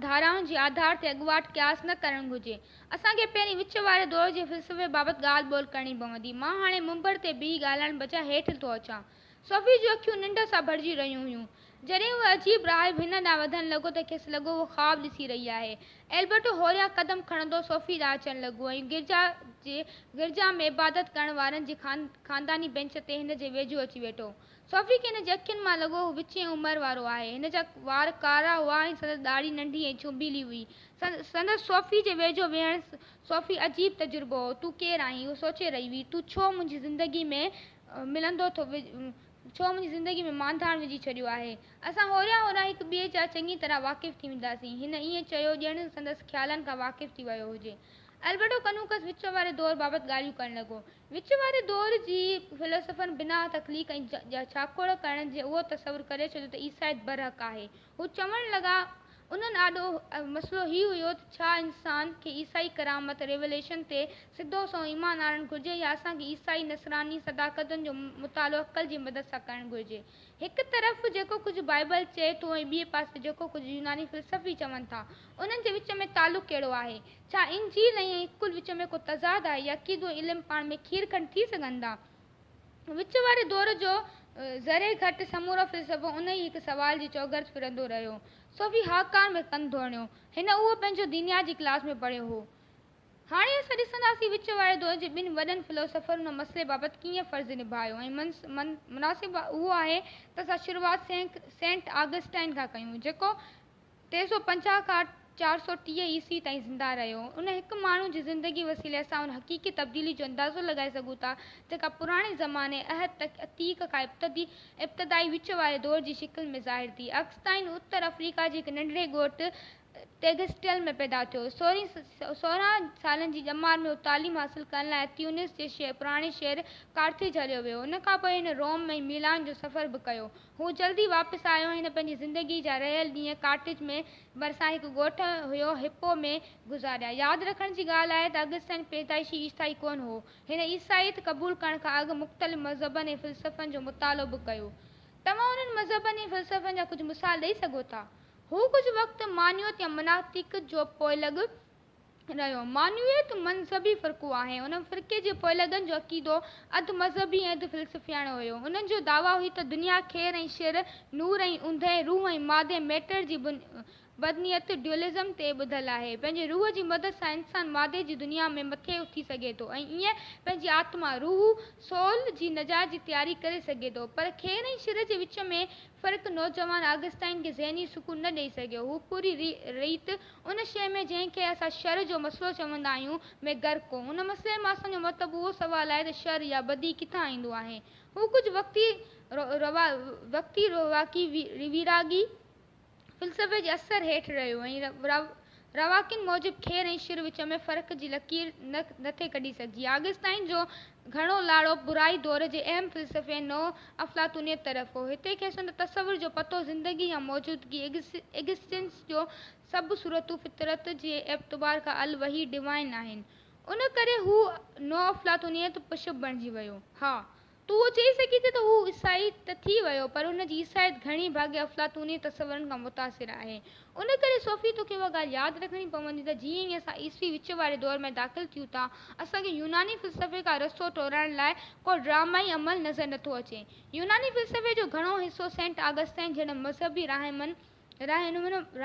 ڌارائن جي آڌار تي اڳواٽ قياس نه ڪرڻ گهرجي. اسان کي پهرين وچ واري دور جي فلسفي بابت ڳالهه ٻولهه ڪرڻي پوندي. مان هاڻي منبر تي بيهي ڳالهائڻ بجاء هيٺ ٿو اچان. صوفي جون اکيون ننڊ سان ڀرجي رهيون هيون. جڏهن اهو عجيب راهب هن ڏانهن وڌڻ لڳو ته کيس لڳو هو خواب ڏسي رهي آهي. البرٽو هوريان قدم کڻندو صوفي ڏانهن اچڻ لڳو ۽ گرجا جي گرجا ۾ عبادت ڪرڻ وارن جي خانداني بينچ تي هن جي ويجهو اچي ويٺو. صوفي کي هن جي اکين مان لڳو هو وچين عمر وارو آهي. هن جا وار ڪارا هئا ۽ سندس ڏاڙهي ننڍي ۽ ڇوڀيلي هئي. سندس صوفي جي ويجهو ويهڻ صوفي عجيب تجربو هو. تون ڪير آهين؟ هو سوچي رهي هئي. تون ڇو منهنجي زندگي ۾ ملندو ٿو ڇو منهنجي زندگي ۾ مانڌاڻ وجهي ڇڏيو آهي. اسان هوريان هوريان هڪ ٻئي جا چڱي طرح واقف ٿي وينداسين. هن ائين چيو ڄڻ سندس خيالن کان واقف ٿي ويو هجي. البرٽو ڪنوڪس وچ واري دور بابت ڳالهيون ڪرڻ لڳو. وچ واري دور جي فيلسوفن بناء تخليق ۽ جا ڇاکوڙ ڪرڻ جي اهو تصور ڪري ڇڏيو ته عيسائيت برحق آهي. هو چوڻ لڳا، انهن آڏو مسئلو هي هيو ته ڇا انسان کي عيسائي ڪرامت، Revelation، تي سڌو سنئون ايمان آڻڻ گهرجي يا اسان کي عيسائي نصراني صداقتن جو مطالعو عقل جي مدد سان ڪرڻ گهرجي. هڪ طرف جيڪو ڪجهه بائيبل چئي ٿو ۽ ٻئي پاسي جيڪو ڪجهه يوناني فلسفي چون ٿا، انهن جي وچ ۾ تعلق ڪهڙو آهي؟ ڇا انجيل ۽ عقل وچ ۾ ڪو تضاد آهي يا ڪي ڏوهه علم پاڻ ۾ کير کنڊ ٿي سگهن ٿا؟ وچ واري دور جو ذري گهٽ سمورو فلسفو ان ئي هڪ سوال جي چوگرد ڦرندو رهيو. صوفي هاڪان ۾ ڪن ڌوڻيو. هن اهو پنهنجو دينيات جي ڪلاس ۾ پڙهيو هو. هاڻي اسان ڏسنداسين وچ واري دور جي ٻن وڏن فلسفرن ان مسئلي بابت ڪيئن فرض نڀايو ۽ مناسب اهو آهي ته اسان شروعات سينٽ آگسٽائن کان ڪيون جيڪو ٽي سؤ پنجاهه کان چار سؤ ٽيهه عيسوي تائين زنده رهيو. ان هڪ ماڻهو جي زندگي وسيلي اسان ان حقيقي تبديلي جو اندازو لڳائي سگهون ٿا جيڪا پراڻي زماني، عهد عتيق، کان ابتدي، ابتدائي وچ واري دور، جي شڪل ۾ ظاهر ٿي. اڪسٽائن اتر آفريڪا جي هڪ ننڍڙي ڳوٺ تيگسٽيل ۾ پيدا ٿيو. سورهن سالن جي ڄمار ۾ هو تعليم حاصل ڪرڻ لاء تيونس جي پراڻي شهر ڪارٿيج هليو ويو. ان کانپوء هن روم ۽ ميلان جو سفر به ڪيو. هو جلدي واپس آيو ۽ هن پنهنجي زندگي جا رهيل ڏينهن ڪارٽج ۾ ڀرسان هڪ ڳوٺ هيو هپو ۾ گذاريا. ياد رکڻ جي ڳالهه آهي ته اگسٽائن پيدائشي عيسائي ڪونه هو. هن عيسائيت قبول ڪرڻ کان اڳ مختلف مذهبن ۽ فلسفن جو مطالعو به ڪيو. توهان انهن مذهبن ۽ فلسفن جا ڪجهه مثال ڏئي سگهو ٿا؟ هو ڪجهه وقت مانيوت يا مناطق جو پوئلڳ رهيو. معنويت مذهبي فرقو آهي. ان فرقي جي پوئلڳن جو عقيدو اڌ مذهبي ۽ اڌ فلسفياڻو هيو. انهن جو دعويٰ هئي ته دنيا خير ۽ شر، نور ۽ اوندهه، روح ۽ مادي، Matter، جي بدنيت، Dualism، تي ٻڌل آهي. پنهنجي روح جي مدد سان انسان مادي جي دنيا ۾ مٿي اٿي سگهي ٿو ۽ ائين پنهنجي آتما، روح، Soul، جي نجات جي تياري ڪري سگهي ٿو. پر خير ۽ شر جي وچ ۾ پر هڪ نوجوان آگسٽائن کي ذهني سڪون نه ڏئي سگهيو. هو پوري ريت ان شيء ۾، جنهن کي اسان شر جو مسئلو چوندا آهيون، ۾ غرق هو. ان مسئلي مان اسان جو مرتب اهو سوال آهي ته شر يا بدي ڪٿان ايندو آهي؟ هو ڪجهه وقتي رواقي، ويراڳي، فلسفي جي اثر هيٺ رهيو ۽ رواقين موجب کير ۽ شر وچ ۾ فرق جي لڪير نه نٿي ڪڍي سگهجي. آگسٽائين جو گهڻو لاڙو برائي دور جي اهم فلسفي نو افلاطونيت طرف هو. هتي کيس ان تصور جو پتو زندگي يا موجودگي، Existence، جو سڀ صورتون فطرت جي اعتبار کان الوهي، Divine، آهن. ان ڪري هو نو افلاطونيت پشپ بڻجي ويو. ها! تون اهو چئي سگهين ٿي ته هو عيسائي ته ٿي ويو پر هن جي عيسائيت گهڻي ڀاڱي افلاطوني تصورن کان متاثر آهي. ان ڪري صوفي توکي اها ڳالهه ياد رکڻي پوندي ته جيئن ئي اسان عيسوي وچ واري دور ۾ داخل ٿيون ٿا اسان کي يوناني فلسفي کان رستو ٽوڙائڻ لاء ڪو ڊرامائي عمل نظر نٿو اچي. يوناني فلسفي جو گهڻو حصو سينٽ آگسٽائين جهڙن مذهبي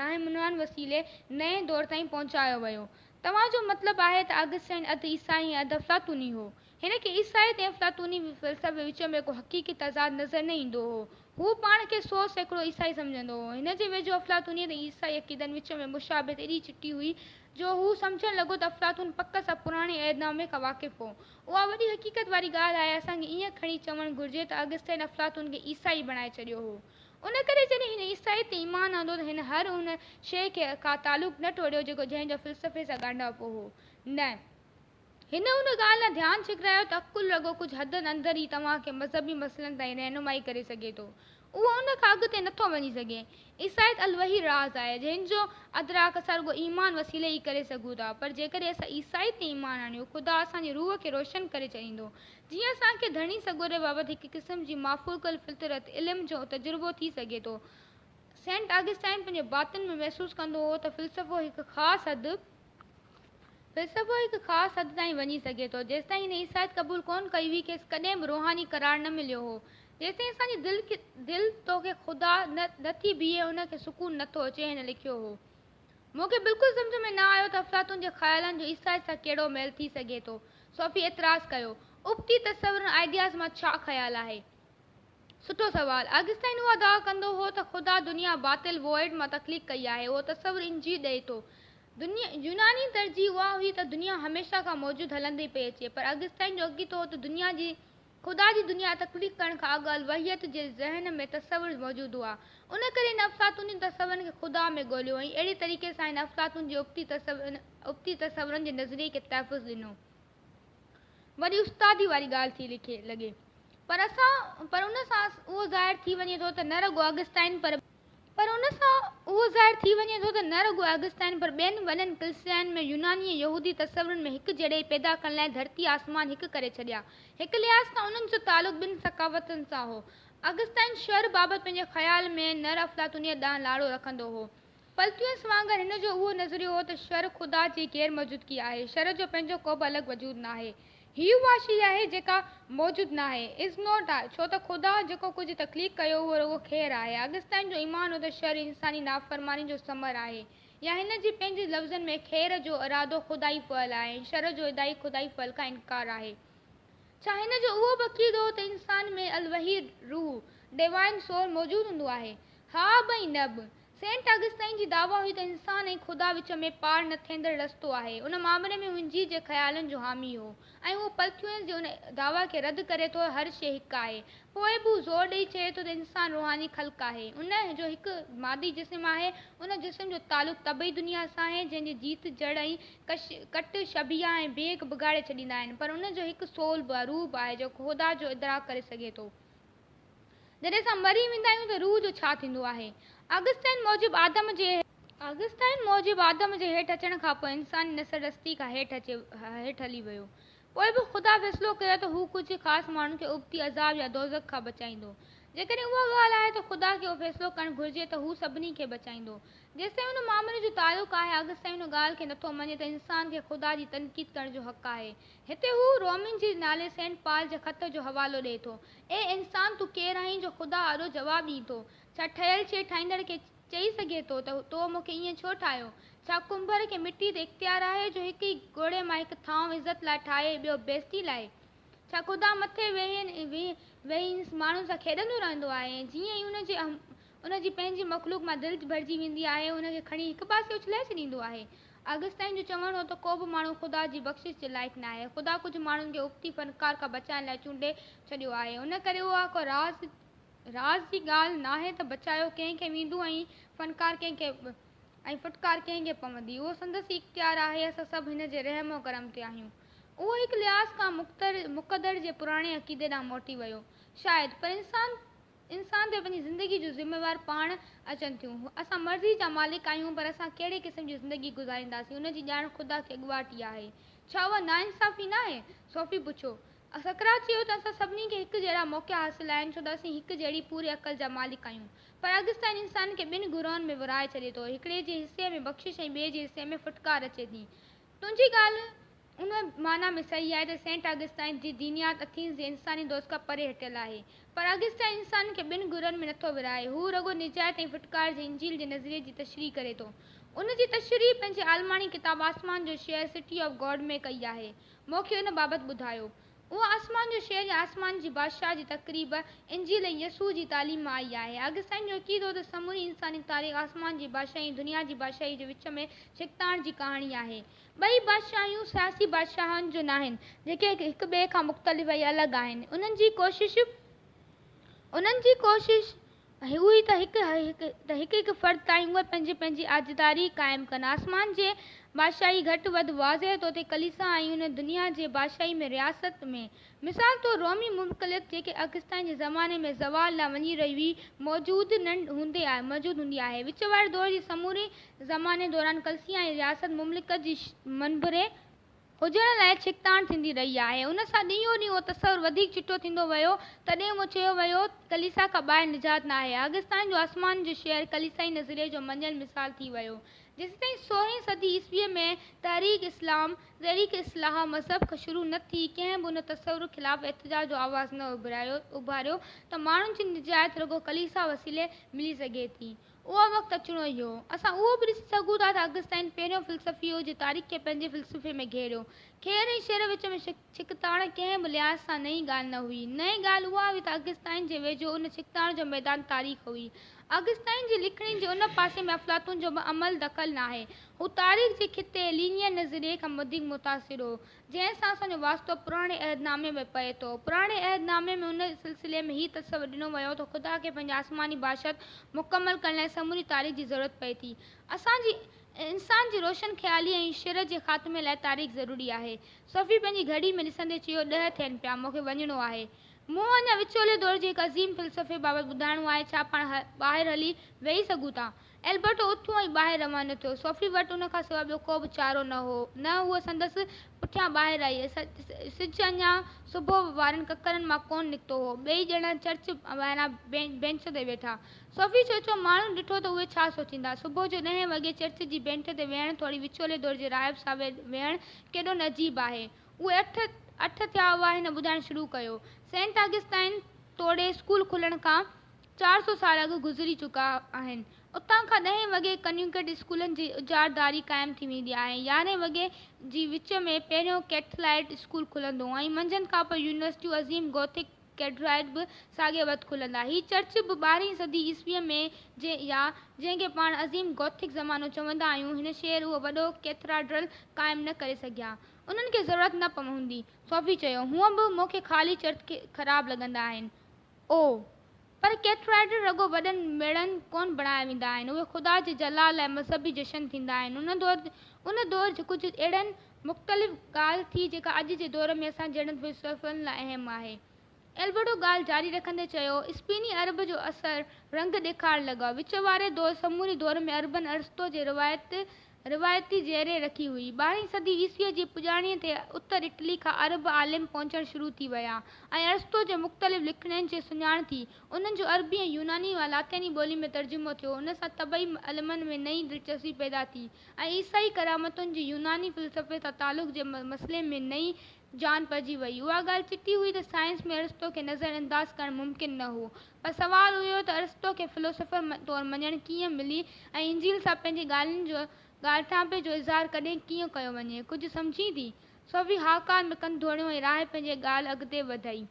راهنمنان وسيلي نئين دور تائين پهچايو ويو. توهان جو مطلب آهي ته آگسٽائين اڌ عيسائي ۽ اڌ افلاطوني هو. هن کي عيسائيت ۽ افلاطوني فلسفي وچ ۾ ڪو حقيقي تضاد نظر نه ايندو هو. هو پاڻ کي سؤ سيڪڙو عيسائي سمجهندو هو. هن جي ويجهو افلاطونيت ۽ عيسائي عقيدن وچ ۾ مشابهت ايڏي چٽي هئي جو هو سمجهڻ لڳو ته افلاطون پڪ سان پراڻي عهدنامي کان واقف هو. اها وڏي حقيقت واري ڳالهه آهي. اسان کي ائين کڻي چوڻ گهرجي ته اگسٽين افلاطون کي عيسائي بڻائي ڇڏيو هو. ان ڪري جڏهن هن عيسائيت تي ايمان آندو ته هن هر ان شيء کان تعلق نه ٽوڙيو جيڪو جنهن جو فلسفي سان ڳانڍاپو هو. نه! هن ان ڳالهه ڏانهن ڌيان ڇڪرايو ته عقل رڳو ڪجهه حدن اندر ئي توهان کي مذهبي مسئلن تائين رهنمائي ڪري سگهي ٿو. اهو ان کان اڳتي نٿو وڃي سگهي. عيسائيت الوحي راز آهي، جنهن جو ادراڪ اسان رڳو ايمان وسيلي ئي ڪري سگهون ٿا. پر جيڪڏهن اسان عيسائيت تي ايمان آڻيون، خدا اسان جي روح کي روشن ڪري ڇڏيندو. جيئن اسان کي ڌڻي سڳوري بابت هڪ قسم جي مافوق الفطرت علم جو تجربو ٿي سگهي ٿو. سينٽ آگسٽائن پنهنجي باطن ۾ محسوس ڪندو هو ته فلسفو هڪ خاص حد فلسفو هڪ خاص حد تائين وڃي سگهي ٿو. جيستائين هن عيسائيت قبول ڪونه ڪئي هئي، کيس ڪڏهن به روحاني قرار نه مليو هو. جيستائين اسان جي دل تو کي خدا نه ٿي بيهي، ان کي سڪون نه ٿو اچي، هن لکيو هو. مون کي بلڪل سمجهه ۾ نه آيو ته افلاطون جي خيالن جو عيسائيت سان ڪهڙو ميل ٿي سگهي ٿو. صوفي اعتراض ڪيو، ابتي تصورن، Ideas، مان ڇا خيال آهي؟ سٺو سوال. آگسٽائن اها دعويٰ ڪندو هو ته خدا دنيا باطل، void، مان تخليق ڪئي آهي. اهو تصور انجيل ڏئي ٿو. يوناني ترجيح اها هئي ته دنيا هميشه کان موجود هلندي پئي اچي. پر آگسٽائن جو عقيدو هو ته دنيا جي خدا جي دنيا تخليق ڪرڻ کان اڳ الوهيت جي ذهن ۾ تصور موجود هئا. ان ڪري هن افلاطوني تصورن کي خدا ۾ ڳوليو ۽ اهڙي طريقي سان هن افلاطون جي ابتي تصورن جي نظريي کي تحفظ ڏنو. وڏي استادي واري ڳالهه ٿي لڳي پر پر ان سان اهو ظاهر ٿي وڃي ٿو ته نه رڳو آگسٽائن پر پر ان سان اهو ظاهر ٿي وڃي ٿو ته نه رڳو آگسٽائن پر ٻين وڏن ڪلسيائن ۾ يوناني ۽ يهودي تصورن ۾ هڪ جهڙيائي پيدا ڪرڻ لاء ڌرتي آسمان هڪ ڪري ڇڏيا هڪ لحاظ کان انهن جو تعلق ٻن ثقافتن سان هو آگسٽائن شهر بابت پنهنجي خيال ۾ نر افلاطونيت ڏانهن لاڙو رکندو هو پلتيوس وانگر هن جو اهو نظريو هو ته شر خدا جي غير موجودگي آهي، شر جو پنهنجو ڪوبه الڳ وجود ناهي. هيء اها شيء آهي جيڪا موجود ناهي، Is Not، آهي، ڇو ته خدا جيڪو ڪجهه تخليق ڪيو اهو رڳو خير آهي. اگستائين جو ايمان هو ته شر انساني نافرماني جو ثمر آهي، يا هن جي پنهنجي لفظن ۾ خير جو ارادو خدائي فعل آهي ۽ شر جو ادائي خدائي فعل کان انڪار آهي. ڇا هن جو اهو به عقيدو هو ته انسان ۾ الوهي روح، Divine Soul، موجود هوندو آهي؟ ها به ۽ نه به. سينٽ آگسٽائين جي دعويٰ هئي ته انسان ۽ خدا وچ ۾ پار نه ٿيندڙ رستو آهي. ان معاملي ۾ هو انجيل جي خيالن جو حامي هو ۽ اهو پلٿيونس جي ان دعويٰ کي رد ڪري ٿو هر شيء هڪ آهي. پوء به هو زور ڏئي چئي ٿو ته انسان روحاني خلق آهي. ان جو هڪ مادي جسم آهي. ان جسم جو تعلق طبعي دنيا سان آهي جنهن جي جيت، جڙ ۽ ڪش، ڪٽ، شبيهه ۽ بيگ بگاڙي ڇڏيندا آهن پر ان جو هڪ سول به، روح به، آهي جيڪو خدا جو ادراڪ ڪري سگهي ٿو. جڏهن اسان مري ويندا آهيون ته روح جو ڇا ٿيندو آهي؟ آگسٽائن موجب آدم جي. آگسٽائن موجب آدم جي هيٺ اچڻ کان پوء انساني نسل رستي کان هيٺ اچي هيٺ هلي ويو. پوء به خدا فيصلو ڪيو ته هو ڪجهه خاص ماڻهن کي ابتي عذاب يا دوزخ کان بچائيندو. جيڪڏهن اها ڳالهه آهي ته خدا کي اهو فيصلو ڪرڻ گهرجي ته هو سڀني کي بچائيندو. جيستائين ان معاملي جو تعلق آهي، آگسٽائن ان ڳالهه کي نٿو مڃي ته انسان کي خدا جي تنقيد ڪرڻ جو حق آهي. هتي هو رومين جي نالي سينٽ پال جي خط جو حوالو ڏئي ٿو، اي انسان تو ڪير آهين جو خدا آڏو جواب ڏئين ٿو؟ ڇا ٺهيل شيء ٺاهيندڙ کي چئي سگهي ٿو ته تو مون کي ائين ڇو ٺاهيو؟ ڇا ڪنڀر کي مٽي تي اختيار آهي جو هڪ ئي ڳوڙهي مان هڪ ٿانو عزت لاء ٺاهي ٻيو بيزتي لاء؟ ڇا خدا مٿي ويهي ويهي انس ماڻهن سان کيڏندو رهندو آهي ۽ جيئن ئي ان جي ان جي پنهنجي مخلوق مان دل ڀرجي ويندي آهي ۽ ان کي کڻي هڪ پاسي اڇلائي ڇڏيندو آهي. آگسٽائين جو چوڻ هو ته ڪوبه ماڻهو خدا جي بخشش جي لائق ناهي. خدا ڪجهه ماڻهن کي ابتي فنڪار کان بچائڻ لاء چونڊي ڇڏيو آهي. ان ڪري اها ڪا راز راز جي ڳالهه ناهي ته بچايو ڪنهن کي ويندو ۽ فنڪار ڪنهن کي ۽ ڦٽڪار ڪنهن کي پوندي. اهو سندس ئي اختيار آهي. اسان سڀ هن جي رحم و ڪرم تي آهيون. اهو هڪ لحاظ کان مقتدر جي پراڻي عقيدي ڏانهن موٽي ويو. شايد. پر انسان. انسان تي پنهنجي زندگي جون ذميوار پاڻ اچن ٿيون. اسان مرضي جا مالڪ آهيون پر اسان ڪهڙي قسم جي زندگي گذارينداسين ان جي ڄاڻ خدا کي اڳواٽ ئي آهي. ڇا اها ناانصافي ناهي؟ صوفي پڇيو. سقراط چيو ته اسان سڀني کي هڪ جهڙا موقعا حاصل آهن ڇو ته اسين هڪ جهڙي پوري عقل جا مالڪ آهيون. پر اگستائين انسان کي ٻن گروهن ۾ ورهائي ڇڏي ٿو. هڪڙي جي حصي ۾ بخشش ۽ ٻئي جي حصي ۾ ڦٽڪار اچي ٿي. تنهنجي ڳالهه ان معنيٰ ۾ صحيح آهي ته سينٽ آگسٽائين جي دينيات اٿينز جي انساني دوست کان پري هٽيل آهي. پر آگسٽائين انسان کي ٻن گهرن ۾ نٿو ورهائي. هو رڳو نجات ۽ ڦٽڪار جي انجيل جي نظريي جي تشريح ڪري ٿو. ان جي تشريح پنهنجي عالماڻي ڪتاب آسمان جو شهر City of God ۾ ڪئي آهي. مون کي ان بابت ٻڌايو. اها آسمان جو شهر يا آسمان جي بادشاهه جي تقريب انجيل ۽ يسوع جي تعليم مان آئي آهي. آگسٽائين جو عقيدو هو ته سموري انساني تاريخ آسمان جي بادشاهي ۽ دنيا جي بادشاهي جي وچ ۾ ڇڪتاڻ جي ڪهاڻي آهي. ٻئي بادشاهيون سياسي بادشاهن جون ناهن، جيڪي هڪ ٻئي کان مختلف ۽ الڳ آهن. انهن جي ڪوشش انهن جي ڪوشش اهوئي ته هڪ ته هڪ هڪ فرد تائين اهي پنهنجي پنهنجي آجداري قائم ڪن. آسمان جي بادشاهي گهٽ وڌ واضح طور تي ڪليسا ۽ ان دنيا جي بادشاهي ۾ رياست ۾ مثال طور رومي مملڪت جيڪي اگستائين جي زماني ۾ زوال ڏانهن وڃي رهي هئي، موجود هوندي آهي. وچ واري دور جي سموري زماني دوران ڪلسيا ۽ رياست مملڪت جي منڀري هجڻ لاء ڇڪتاڻ ٿيندي رهي آهي. ان سان ڏينهون ڏينهن اهو تصور وڌيڪ چٽو ٿيندو ويو. تڏهن اهو چيو ويو ته ڪليسا کان ٻاهر نجات ناهي. اگستائين جو آسمان جو شهر ڪليسائي نظريي جو مڃيل مثال ٿي ويو. جيستائين سورهين صدي عيسويء ۾ تحريڪ اسلام، تحريڪ اصلاح، مذهب کان شروع نه ٿي، ڪنهن به ان تصور خلاف احتجاج جو آواز نه اڀاريو ته ماڻهن جي نجات رڳو ڪليسا وسيلي ملي سگهي ٿي. اهو وقت اچڻو ئي هو. اسان اهو به ڏسي سگهون ٿا ته اگستائين پهريون فلسفي هو جنهن تاريخ کي پنهنجي فلسفي ۾ گهيريو. خير ۽ شر وچ ۾ ڇڪتاڻ ڪنهن به لحاظ سان نئين ڳالهه نه هئي. نئين ڳالهه اها هئي ته اگستائين جي ويجهو ان ڇڪتاڻ جو ميدان تاريخ هئي. اگستائين جي لکڻين جي ان پاسي ۾ افلاطون جو به عمل دخل ناهي. هو تاريخ جي خطي، Linear، نظريي کان وڌيڪ متاثر هو، جنهن سان اسان جو واسطو پراڻي عهد نامي ۾ پئي ٿو. پراڻي عهد نامي ۾ ان سلسلي ۾ هي تصور ڏنو ويو ته خدا کي پنهنجي آسماني بادشاهت مڪمل ڪرڻ لاء سموري تاريخ جي ضرورت پئي ٿي. اسان جي انسان جي روشن خيالي ۽ شر جي خاتمي لاء تاريخ ضروري آهي. صوفي پنهنجي گهڙي ۾ ڏسندي چيو، ڏهه ٿين پيا، مون کي وڃڻو آهي. مون اڃا وچولي دور جي هڪ عظيم فلسفي بابت ٻڌائڻو آهي، ڇا پاڻ ٻاهر هلي ويهي سگهون ٿا؟ البرٽو اٿيو ۽ ٻاهر روانو ٿيو. صوفي وٽ ان کان سواء ٻيو ڪو به چارو نه هو، نه هوء سندس پٺيان ٻاهر آئي. سج اڃا صبح وارن ڪڪرن مان ڪونه نڪتو هو. ٻئي ڄڻا چرچ ٻاهران بينچ تي ويٺا. صوفي سوچيو، ماڻهن ڏٺو ته اهي ڇا سوچيندا؟ صبح جو ڏهين وڳي چرچ جي بينٺ تي ويهڻ توڻي وچولي دور جي راهب سان ويهڻ ڪيڏو نه عجيب آهي. اهي اٺ، اٺ ٿيا هئا، هن ٻڌائڻ شروع ڪيو، سينٽ آگسٽائن توڙي اسڪول کلڻ کان چار سؤ سال اڳ گذري چڪا آهن. اتان کان ڏهين وڳي ڪنيوڪيٽ اسڪولن جي اجارتداري قائم ٿي ويندي آهي. يارهين وڳي جي وچ ۾ پهريون ڪيٿلائيٽ اسڪول کلندو ۽ منجهند کانپوء يونيورسٽيون عظيم گوٿڪ ڪيڊرائيٽ به ساڳئي وت کلندا. هي چرچ به ٻارهين صدي عيسويء ۾ جنهن يا جنهن کي پاڻ عظيم گوٿڪ زمانو چوندا آهيون هن شهر اهو وڏو ڪيٿراڊرل قائم نه ڪري سگهيا. انهن کي ضرورت نه پوندي. صوفي چيو، هونء به مون کي خالي چرچ خراب لڳندا آهن. او! پر ڪيٿرائيڊ رڳو وڏن ميڙن ڪونه بڻايا ويندا آهن. اهي خدا جي جلال ۽ مذهبي جشن ٿيندا آهن. ان دور ان دور جي ڪجهه اهڙن مختلف ڳالهه ٿي جيڪا اڄ جي دور ۾ اسان جهڙن فلسفن لاء اهم آهي. البرٽو ڳالهه جاري رکندي چيو، اسپيني ارب جو اثر رنگ ڏيکارڻ لڳا. وچ واري دور سموري دور ۾ اربن ارسطو جي روايت روايتي زيرين رکي هئي. ٻارهين صدي عيسويء جي پڄاڻيء تي اتر اٽلي کان ارب عالم پهچڻ شروع ٿي ويا ۽ ارسطو جي مختلف لکڻين جي سڃاڻ ٿي. انهن جو عربي ۽ يوناني مان لاطيني ٻولي ۾ ترجمو ٿيو. ان سان طبعي علمن ۾ نئين دلچسپي پيدا ٿي. ۽ عيسائي ڪرامتن جي يوناني فلسفي سان تعلق جي مسئلي ۾ نئين جان پئجي وئي. اها ڳالهه چٽي هئي ته سائنس ۾ ارسطو کي نظر انداز ڪرڻ ممڪن نه هو. پر سوال اهو هو ته ارسطو کي فلسفر طور مڃڻ ڪيئن ملي ۽ انجيل سان پنهنجي ڳالهين جو ڳالهٽانپي جو اظهار ڪڏهن ڪيئن ڪيو وڃي. ڪجهه سمجهين ٿي؟ سوي هاڪار ۾ ڪن ڌوڻيو ۽ راهي پنهنجي ڳالهه اڳتي وڌائي.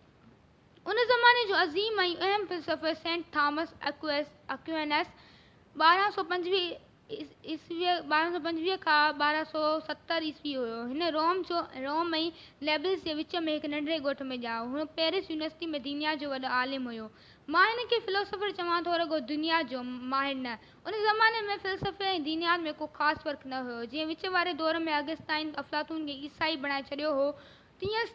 ان زماني جو عظيم ۽ اهم فلسفي سينٽ ٿامس اڪوئس، Aquinas، ٻارهن سؤ پنجويهه کان ٻارهن سؤ ستر عيسوي هيو. هن روم جو Rome ۽ Naples جي وچ ۾ هڪ ننڍڙي ڳوٺ ۾ ڄائو. هن پئرس يونيورسٽي ۾ دينيات جو وڏو عالم هيو. مان هن کي فلسفر چوان ٿو رڳو دنيات جو ماهر نه. ان زماني ۾ فلسفي ۽ دينيات ۾ ڪو خاص فرق نه هيو. جيئن وچ واري دور ۾ اگستائين افلاطون کي عيسائي بڻائي ڇڏيو هو تيئن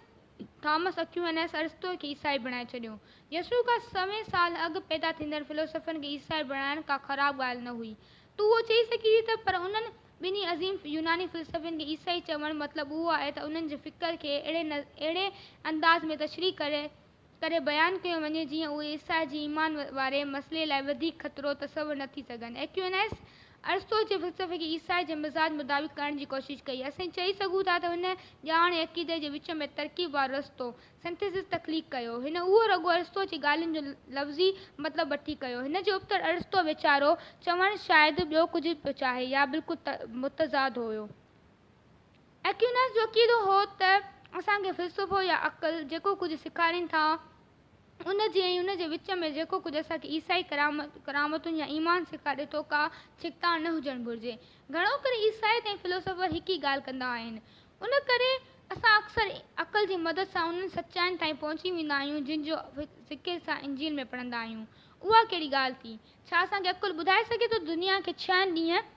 ٿامس اڪيونس ارسطو کي عيسائي بڻائي ڇڏيو. يسوع کان سوين سال اڳ پيدا ٿيندڙ فلسوفن کي عيسائي بڻائڻ ڪا خراب ڳالهه نه هئي. تون اهو چئي سگهين ٿي ته پر انهن ٻنهي عظيم يوناني فلسفين کي عيسائي چوڻ مطلب اهو آهي ته انهن جي فڪر کي اهڙي انداز ۾ تشريح ڪري ڪري بيان ڪيو وڃي جيئن اهي عيسائي جي ايمان واري مسئلي لاء وڌيڪ خطرو تصور نه ٿي سگهن. اڪيونس ارسطو جي فلسفي کي عيسائي جي مزاج مطابق ڪرڻ جي ڪوشش ڪئي. اسين چئي سگهون ٿا ته هن ڄاڻ ۽ عقيدي جي وچ ۾ ترڪيب وارو رستو، Synthesis، تخليق ڪيو. هن اهو رڳو ارسطو جي ڳالهين جو لفظي مطلب وٺي ڪيو. هن جي ابتڙ ارسطو ويچارو چوڻ شايد ٻيو ڪجهه پيو چاهي يا بلڪل متضاد هيو. ايڪويناس جو عقيدو هو ته اسان کي فلسفو يا عقل جيڪو ڪجهه سيکارين ٿا، ان جي ۽ ان جي وچ ۾ جيڪو ڪجهه اسان کي عيسائي ڪرامتن يا ايمان سيکاري ٿو ڪا ڇڪتاڻ نه هجڻ گهرجي. گهڻو ڪري عيسائيت ۽ فلسفر هڪ ئي ڳالهه ڪندا آهن. ان ڪري اسان اڪثر عقل جي مدد سان انهن سچائين تائين پهچي ويندا آهيون جن جو ذڪر اسان انجيل ۾ پڙهندا آهيون. اها ڪهڙي ڳالهه ٿي؟ ڇا اسان کي عقل ٻڌائي سگهي ٿو ته دنيا کي ڇهن ڏينهن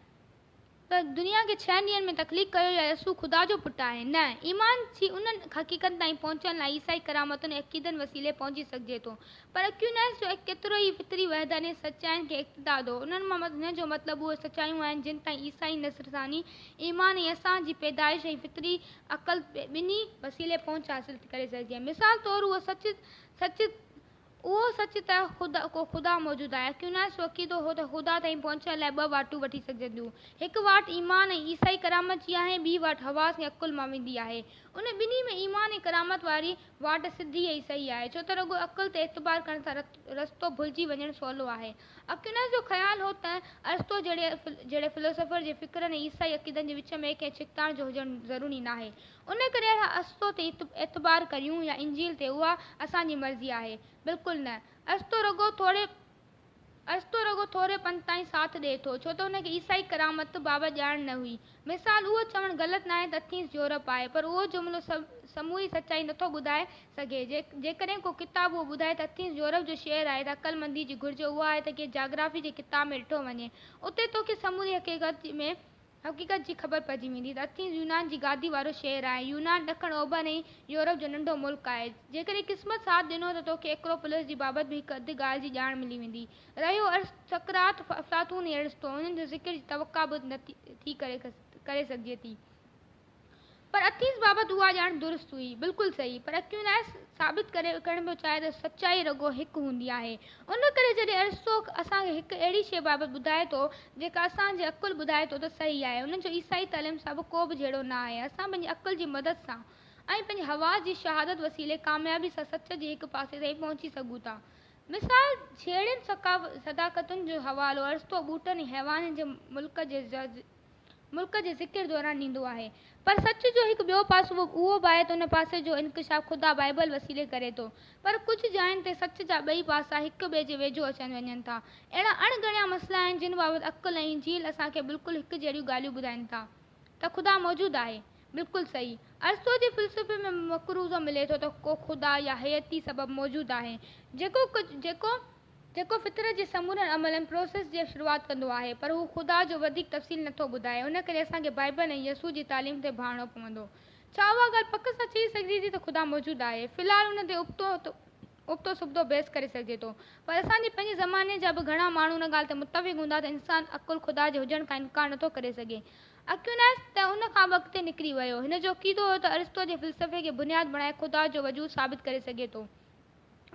ته دنيا کي ڇهن ڏينهن ۾ تخليق ڪيو يا يسوع خدا جو پٽ آهي؟ نه. ايمان جي انهن حقيقتن تائين پهچڻ لاء عيسائي ڪرامتن ۽ عقيدن وسيلي پهچي سگهجي ٿو. پر اڪيوناس جو اهي ڪيترو ئي فطري وحداني سچاين کي اقتدا ڏو. انهن مان هن جو مطلب اهي سچايون آهن جن تائين عيسائي نصرتاني ايمان ۽ اسان جي پيدائش ۽ فطري عقل ٻنهي وسيلي پهچ حاصل ٿي ڪري سگهجي. مثال طور اهو سچ اهو سچ ته خدا ڪو خدا موجود آهي اڪيوناس جو عقيدو هو ته خدا تائين پهچڻ لاء ٻه واٽون وٺي سگهجن ٿيون. هڪ واٽ ايمان ۽ عيسائي ڪرامت جي آهي ۽ ٻي واٽ حواس ۽ عقل مان ويندي آهي. ان ٻنهي ۾ ايمان ۽ ڪرامت واري واٽ سڌي ۽ صحيح آهي ڇو ته رڳو عقل تي اعتبار ڪرڻ سان رستو ڀلجي وڃڻ سولو آهي. اڪيوناس جو خيال هو ته ارسطو جهڙي جهڙي فلسفر جي فڪرن ۽ عيسائي عقيدن جي وچ ۾ ڪنهن ڇڪتاڻ جو هجڻ ضروري ناهي. ان ڪري اھا استو تي اعتبار ڪريون يا انجيل تي اھا اسان جي مرضي آھي؟ بلڪل نه استو رڳو ٿوري استو رڳو ٿوري پنڌ تائين ساٿ ڏئي ٿو ڇو ته ان کي عيسائي ڪرامت بابت ڄاڻ نه ھئي مثال اھو چوڻ غلط ناھي ته اٿينس يورپ آھي پر اھو جملو سموري سچائي نٿو ٻڌائي سگھي جيڪڏھن ڪو ڪتاب اھو ٻڌائي ته اٿينس يورپ جو شھر آھي ته عقلمندي جي گھرج اھا آھي ته ڪنھن جاگرافي جي ڪتاب ۾ ڏٺو وڃي اتي توکي سموري حقيقت ۾ حقيقت جي خبر پئجي ويندي ته اٿينز يونان جي گادي وارو شهر آهي. يونان ڏکڻ اوڀر ۽ يورپ جو ننڍو ملڪ آهي. جيڪڏهن قسمت ساٿ ڏنو ته توکي ايڪروپولس جي بابت به هڪ اڌ ڳالهه جي ڄاڻ ملي ويندي. رهيو ارسط، سقراط، افلاطون ۽ ارسطو، انهن جي ذڪر جي توقع به ٿي ڪري سگهجي ٿي. پر اٿيس بابت اها ڄاڻ درست هئي. بلڪل صحيح. پر اڪيوناس ثابت ڪري ڪرڻ پيو چاهي ته سچائي رڳو هڪ هوندي آهي. ان ڪري جڏهن ارسطو اسان کي هڪ اهڙي شيء بابت ٻڌائي ٿو، جيڪا اسان جي عقل ٻڌائي ٿو ته صحيح آهي، ان جو عيسائي تعليم سان به ڪو به جهيڙو نه آهي. اسان پنهنجي عقل جي مدد سان ۽ پنهنجي حواس جي شهادت وسيلي ڪاميابي سان سچ جي هڪ پاسي تائين پهچي سگهون ٿا. مثال، جهيڙين صداقتن جو حوالو ارسطو ٻوٽن ۽ حيوانن جي ملڪ جي ملڪ جي ذڪر دوران ڏيندو آهي. پر سچ جو هڪ ٻيو پاسو اهو به آهي ته ان پاسي جو انڪشاف خدا بائيبل وسيلي ڪري ٿو. پر ڪجهه جاين تي سچ جا ٻئي پاسا هڪ ٻئي جي ويجهو اچن وڃن ٿا. اهڙا اڻ ڳڻيا مسئلا آهن جن بابت عقل ۽ انجيل اسان کي بلڪل هڪ جهڙيون ڳالهيون ٻڌائين ٿا ته خدا موجود آهي. بلڪل صحيح. ارسطو جي فلسفي ۾ مقروضه ملي ٿو ته ڪو خدا يا هيئتي سبب موجود آهي جيڪو جيڪو جيڪو فطرت جي سمورن عملن، Process، جي شروعات ڪندو آهي، پر هو خدا جو وڌيڪ تفصيل نه ٿو ٻڌائي. ان ڪري اسان کي بائيبل ۽ يسوع جي تعليم تي ڀاڙڻو پوندو. ڇا اها ڳالهه پڪ سان چئي سگهجي ٿي ته خدا موجود آهي؟ في الحال ان تي ابتو ابتو سبتو بحث ڪري سگهجي ٿو. پر اسان جي پنهنجي زماني جا به گهڻا ماڻهو ان ڳالهه تي متفق هوندا ته انسان عقل خدا جي هجڻ کان انڪار نه ٿو ڪري سگهي. اڪويناس ته ان کان به اڳتي نڪري ويو. هن جو عقيدو هو ته ارسطو جي فلسفي کي بنياد بڻائي خدا جو وجود ثابت ڪري سگهي ٿو.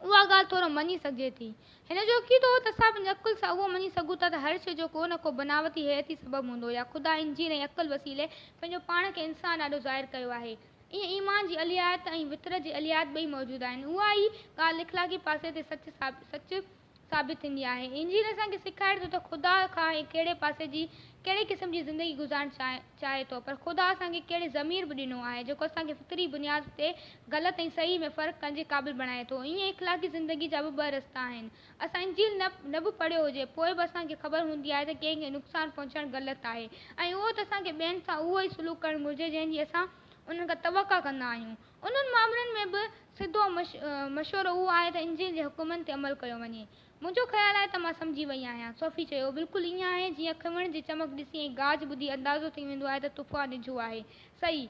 اها ڳالهه ٿورو مڃي سگهجي ٿي. هن جو عقيدو هو ته اسان پنهنجي عقل سان اهو مڃي سگهون ٿا ته هر شيء جو ڪو نه ڪو بناوتي هيئتي سبب هوندو يا خدا انجيل ۽ عقل وسيلي پنهنجو پاڻ کي انسان آڏو ظاهر ڪيو آهي. ائين ايمان جي الهيات ۽ فطرت جي الهيات ٻئي موجود آهن. اها ئي ڳالهه اخلاقي پاسي تي سچ سچ ثابت ٿيندي آهي. انجيل اسان کي سيکاري ٿو ته خدا کان هي ڪهڙي پاسي جي ڪهڙي قسم جي زندگي گذارڻ چاهي ٿو پر خدا اسان کي ڪهڙي ضمير به ڏنو آهي جيڪو اسان کي فطري بنياد تي غلط ۽ صحيح ۾ فرق ڪرڻ جي قابل بڻائي ٿو ائين اخلاقي زندگي جا به ٻه رستا آهن اسان انجيل نه به پڙهيو هجي پوء به اسان کي خبر هوندي آهي ته ڪنهن کي نقصان پهچائڻ غلط آهي ۽ اهو ته اسان کي ٻين سان اهو ئي سلوڪ ڪرڻ گهرجي جنهن جي اسان انهن کان توقع ڪندا آهيون. انهن معاملن ۾ به سڌو مشورو اهو آهي ته انجيل جي حڪمن تي عمل ڪيو وڃي. منهنجو خيال آهي ته مان سمجهي وئي آهيان. صوفي چيو، بلڪل ائين آهي جيئن کنوڻ جي چمڪ ڏسي ۽ گاج ٻڌي اندازو ٿي ويندو آهي ته طوفان ڊگهو آهي. صحيح.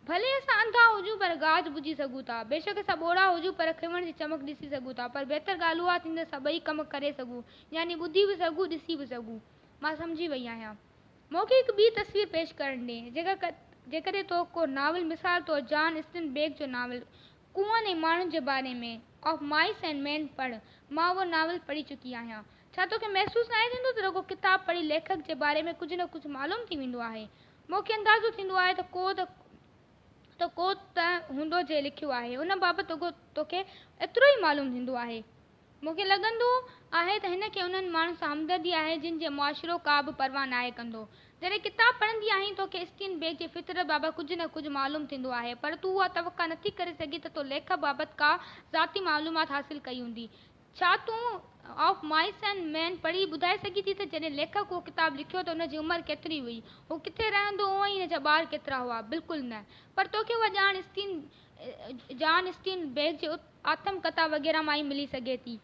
ڀلي اسان انڌا هجون پر گاج ٻڌي سگهون ٿا. بيشڪ اسان ٻوڙا هجون پر کنوڻ جي چمڪ ڏسي سگهون ٿا. پر بهتر ڳالهه اها ٿيندي ته اسان ٻئي ڪم ڪري سگهون يعني ٻڌي به سگهون ڏسي به سگهون. مان سمجهي وئي آهيان. مون کي هڪ ٻي تصوير پيش ڪرڻ ڏي، جيڪا جيڪڏهن تو ڪو ناول مثال طور جان اسٽن بيڪ جو ناول ڪوئن ۽ ماڻهن جي باري ۾ Of Mice and Men پڙهه، مان اهو ناول پڙهي چڪي آهيان. ڇا تو کي محسوس ناهي ٿيندو ته رڳو ڪتاب پڙهي ليکڪ جي باري ۾ ڪجهه نه ڪجهه معلوم ٿي ويندو آهي. مون کي اندازو ٿيندو آهي ته ڪو ته ته ڪو ته هوندو جنهن لکيو آهي ان بابت رڳو تو کي ايترو ئي معلوم ٿيندو آهي. مون کي لڳندو آهي ته هن کي انهن ماڻهن سان همدردي آهي جن جي معاشرو ڪا به پرواهه ناهي ڪندو. جڏهن ڪتاب پڙهندي آهين تو کي اسٽين بيڪ جي فطرت بابت ڪجهه نه ڪجهه معلوم ٿيندو آهي پر تون اها توقع نٿي ڪري سگهين ته تو ليکڪ بابت ڪا ذاتي معلومات حاصل ڪئي هوندي. ڇا تون آف مائس اينڊ مين پڙهي ٻڌائي سگهين ٿي ته جڏهن ليکڪ اهو ڪتاب لکيو ته ان جي عمر ڪيتري هئي؟ هو ڪٿي رهندو هو ۽ هن جا ٻار ڪيترا هئا؟ بلڪل نه. پر تو کي اها ڄاڻ اسٽين جان اسٽين بيڪ جي آتم ڪٿا وغيره مان ئي ملي سگهي ٿي.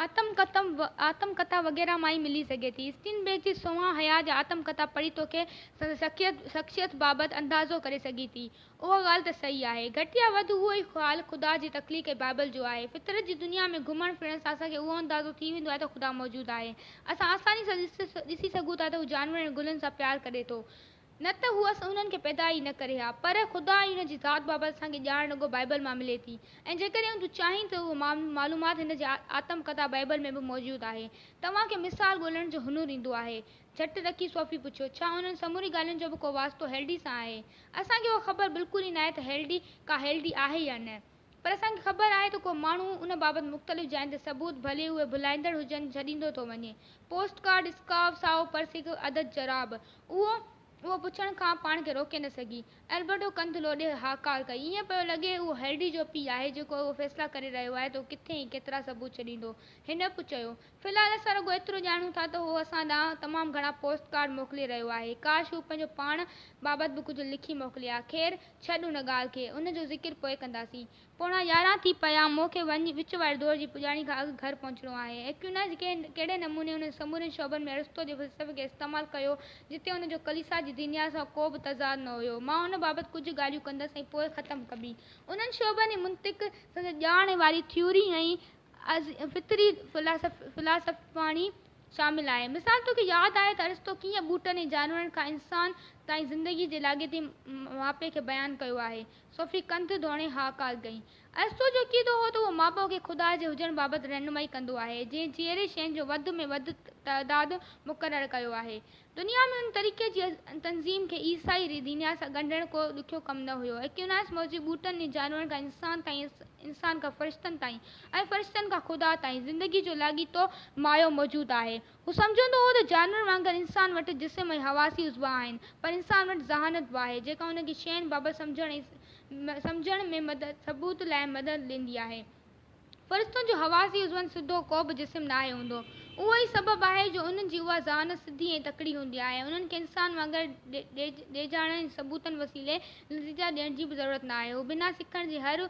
آتم ڪتم آتم ڪٿا وغيره مان ئي ملي سگهي ٿي. اسٽين بيڪ جي سونهان حياء جا آتم ڪٿا پڙهي توکي سندس شخيت شخصيت بابت اندازو ڪري سگهي ٿي. اها ڳالهه ته صحيح آهي. گهٽ يا وڌ اهو ئي خيال خدا جي تخليق ۽ بائيبل جو آهي. فطرت جي دنيا ۾ گهمڻ ڦرڻ سان اسان کي اهو اندازو ٿي ويندو آهي ته خدا موجود آهي. اسان آساني سان ڏسي سگهون ٿا ته هو جانورن ۽ گلن سان پيار ڪري ٿو. نه ته هو اسان انهن کي پيدا ئي نه ڪري ها. پر خدا ۽ ان جي ذات بابت اسان کي ڄاڻ رڳو بائيبل مان ملي ٿي ۽ جيڪڏهن تو چاهين ته اهو معلومات هن جي آتم ڪٿا بائيبل ۾ به موجود آهي. توهان کي مثال ڳولڻ جو هنر ايندو آهي؟ جهٽ رکي صوفي پڇيو، ڇا انهن سمورين ڳالهين جو به ڪو واسطو هيلڊي سان آهي؟ اسان کي اها خبر بلڪل ئي ناهي ته هيلڊي ڪا هيلڊي آهي يا نه. پر اسان کي خبر آهي ته ڪو ماڻهو ان بابت مختلف جاين تي ثبوت، ڀلي اهي ڀلائيندڙ هجن، ڇڏيندو ٿو وڃي. پوسٽ ڪارڊ، اسڪارف، سائو پرس، هڪ عدد جراب. اهو، اهو پڇڻ کان پاڻ کي روڪي نه سگهي. البرٽو ڪنڌ لوڏي هاڪار ڪئي. ائين پيو لڳي اهو هيلڊي جو پيء آهي، جيڪو اهو فيصلا ڪري رهيو آهي ته هو ڪٿي ۽ ڪيترا ثبوت ڇڏيندو. هن به چيو، في الحال اسان رڳو ايترو ڄاڻون ٿا ته هو اسان ڏانهن تمام گهڻا پوسٽ ڪارڊ موڪلي رهيو آهي. ڪاش هو پنهنجو پاڻ بابت به ڪجهه لکي موڪلي ها. خير، ڇڏ ان ڳالهه کي. ان جو ذڪر پوء ڪنداسين. پوڻا يارهن ٿي پيا آهن. مون کي وڃي وچ واري دور جي پڄاڻي کان اڳ گهر پهچڻو آهي. اڪيوناز ڪهڙي نموني انهن سمورن شعبن ۾ ارسطو جي فلسفي کي استعمال ڪيو، جتي ان جو ڪليسا جي دنيا سان ڪو به تضاد نه هيو. مان ان بابت ڪجهه ڳالهيون ڪندس ۽ پوء ختم ڪبي. انهن شعبن ۽ منطق، سندس ڄاڻ واري ٿيوري ۽ فطري فلاسافاڻي شامل آهي. مثال توکي ياد آهي ته ارسطو ڪيئن ٻوٽن ۽ جانورن کان انسان تائين زندگي جي لاڳيتي ماپي کي بيان ڪيو آهي. صوفي ڪنڌ ڌوڻي هاڪار ڳئي. ارسطو جو عقيدو هو ته اهو مابعه کي خدا جي هجڻ بابت رهنمائي ڪندو آهي جنهن جيئري شين جو وڌ ۾ وڌ تعداد مقرر ڪيو آهي. دنيا ۾ ان طريقي جي تنظيم کي عيسائي ري دنيا سان ڳنڍڻ ڪو ڏکيو ڪم نه هيو. اڪيوناس موضوع ٻوٽن ۽ جانورن کان انسان تائين، انسان کان فرشتن تائين ۽ فرشتن کان خدا تائين زندگي جو لاڳيتو مايو موجود آهي. هو سمجهندو هو ته جانورن وانگر انسان وٽ جسم ۽ حواسي عضوا آهن، پر انسان وٽ ذهانت به آهي، جيڪا هن کي شين بابت سمجهڻ ۽ سمجهڻ ۾ ثبوت لاء مدد ڏيندي آهي. فرشتن جو حواسي عضون سڌو ڪو به جسم ناهي هوندو. اهو ئي سبب آهي جو انهن جي اها ذهانت سڌي ۽ تڪڙي هوندي آهي ۽ انهن کي انسان وانگر ڊيڄاڻن ۽ ثبوتن وسيلي نتيجا ڏيڻ جي به ضرورت ناهي. هو بنا سکڻ جي هر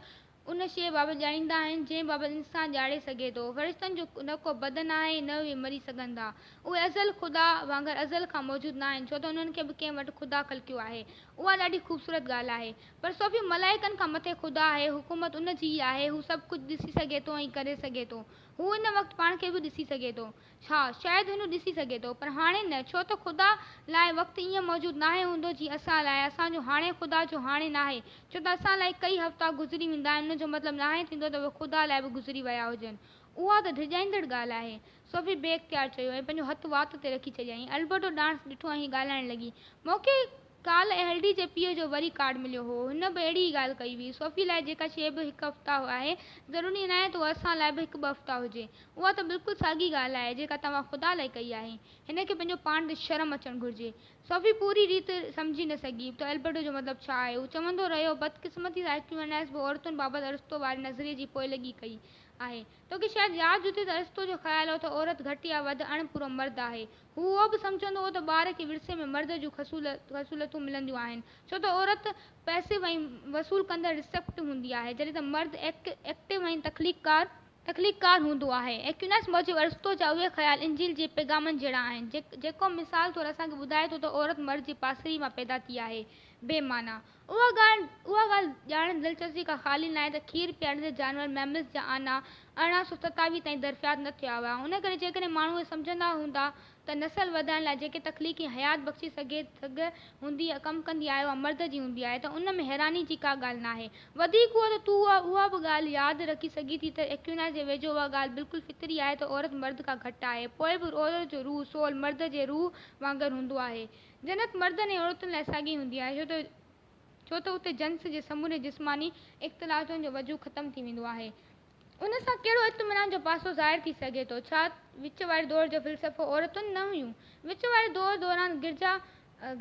ان شيء بابت ڄاڻيندا آهن جنهن بابت انسان ڄاڻي سگهي ٿو. فرشتن جو نه ڪو بدن آهي ۽ نه اهي مري سگهن ٿا. اهي ازل خدا وانگر ازل کان موجود ناهن ڇو ته انهن کي به ڪنهن وٽ خدا خلقيو آهي. اها ڏاڍي خوبصورت ڳالهه آهي. پر سو به ملائڪن کان مٿي خدا آهي، حڪومت ان جي ئي آهي، هو سڀ ڪجهه ڏسي سگهي ٿو ۽ ڪري سگهي ٿو. هو ان وقت پاڻ کي به ڏسي سگهي ٿو. ها، شايد هن ڏسي سگهي ٿو، پر هاڻي نه، ڇو ته خدا لاء وقت ائين موجود ناهي هوندو جيئن اسان لاء، اسان جو هاڻي خدا جو هاڻي ناهي، ڇو ته اسان لاء ڪئي هفتا گذري ويندا آهن ان جو مطلب ناهي ٿيندو ته اهي خدا لاء به گذري ويا هجن. اها ته ڊڄائيندڙ ڳالهه آهي. سوفي بي اختيار چيو ۽ پنهنجو هٿ وات تي رکي ڇڏيائين. البرٽو ڏانهس ڏٺو ۽ هي ڳالهائڻ لڳي، مون کي ڪالهه L D G P O جو وري ڪارڊ مليو هو، هن به اهڙي ئي ڳالهه ڪئي هئي، صوفي لاء جيڪا شيء به هڪ افتاح آهي، ضروري ناهي ته اها اسان لاء به هڪ ٻه افتاح هجي. اها ته بلڪل ساڳي ڳالهه آهي، جيڪا توهان خدا لاء ڪئي آهي. هن کي پنهنجو پاڻ تي شرم اچڻ گهرجي. صوفي پوري ريت سمجهي نه سگهي، ته البرٽو جو مطلب ڇا آهي. هو چوندو رهيو، بدقسمتي سان اڪويناس به عورتن بابت ارسطو واري نظريي جي پوئلڳي ڪئي آهي. توکي شايد ياد هجي ته ارسطو جو خيال هو ته عورت گهٽ يا وڌ اڻ پورو مرد آهي. هو اهو به سمجهندو هو ته ٻار کي ورثي ۾ مرد جون خصولتون ملنديون آهن، ڇو ته عورت پئسيو ۽ وصول ڪندڙ، Receptive، هوندي آهي، جڏهن ته مرد Active ۽ تخليق ڪار، هوندو آهي. ايڪويناس موجب ارسطو جا اهي خيال انجيل جي پيغامن جهڙا آهن، جيڪو مثال طور اسان کي ٻڌائي ٿو ته عورت مرد جي پاسري مان پيدا ٿي آهي، بي معنيٰ. اها ڳالهه ڄاڻڻ ۾ دلچسپي کان خالي ناهي ته کير پياريندڙ جانور ميمز جا آنا ارڙهن سؤ ستاويهه تائين درپياد نه ٿيا هئا ان ڪري جيڪڏهن ماڻهو اهو سمجهندا هوندا ته نسل وڌائڻ لاء جيڪي تخليقي حيات بخشي سگهي سگهه هوندي ڪم ڪندي آهي اها مرد جي هوندي آهي ته ان ۾ حيراني جي ڪا ڳالهه ناهي وڌيڪ اهو ته تون اها به ڳالهه ياد رکي سگهين ٿي ته ايڪويناس جي ويجهو اها ڳالهه بلڪل فطري آهي ته عورت مرد کان گهٽ آهي پوء به عورت جو روح، Soul، مرد جي روح وانگر هوندو آهي جنت مردن ۽ عورتن لاء ساڳي هوندي آهي ڇو ته اتي جنس جي سمورين جسماني اختلاطن جو وجود ختم ٿي ويندو آهي. ان سان ڪهڙو اطمينان جو پاسو ظاهر ٿي سگهي ٿو؟ ڇا وچ واري دور جو فلسفو عورتن نه هيون؟ وچ واري دور دوران گرجا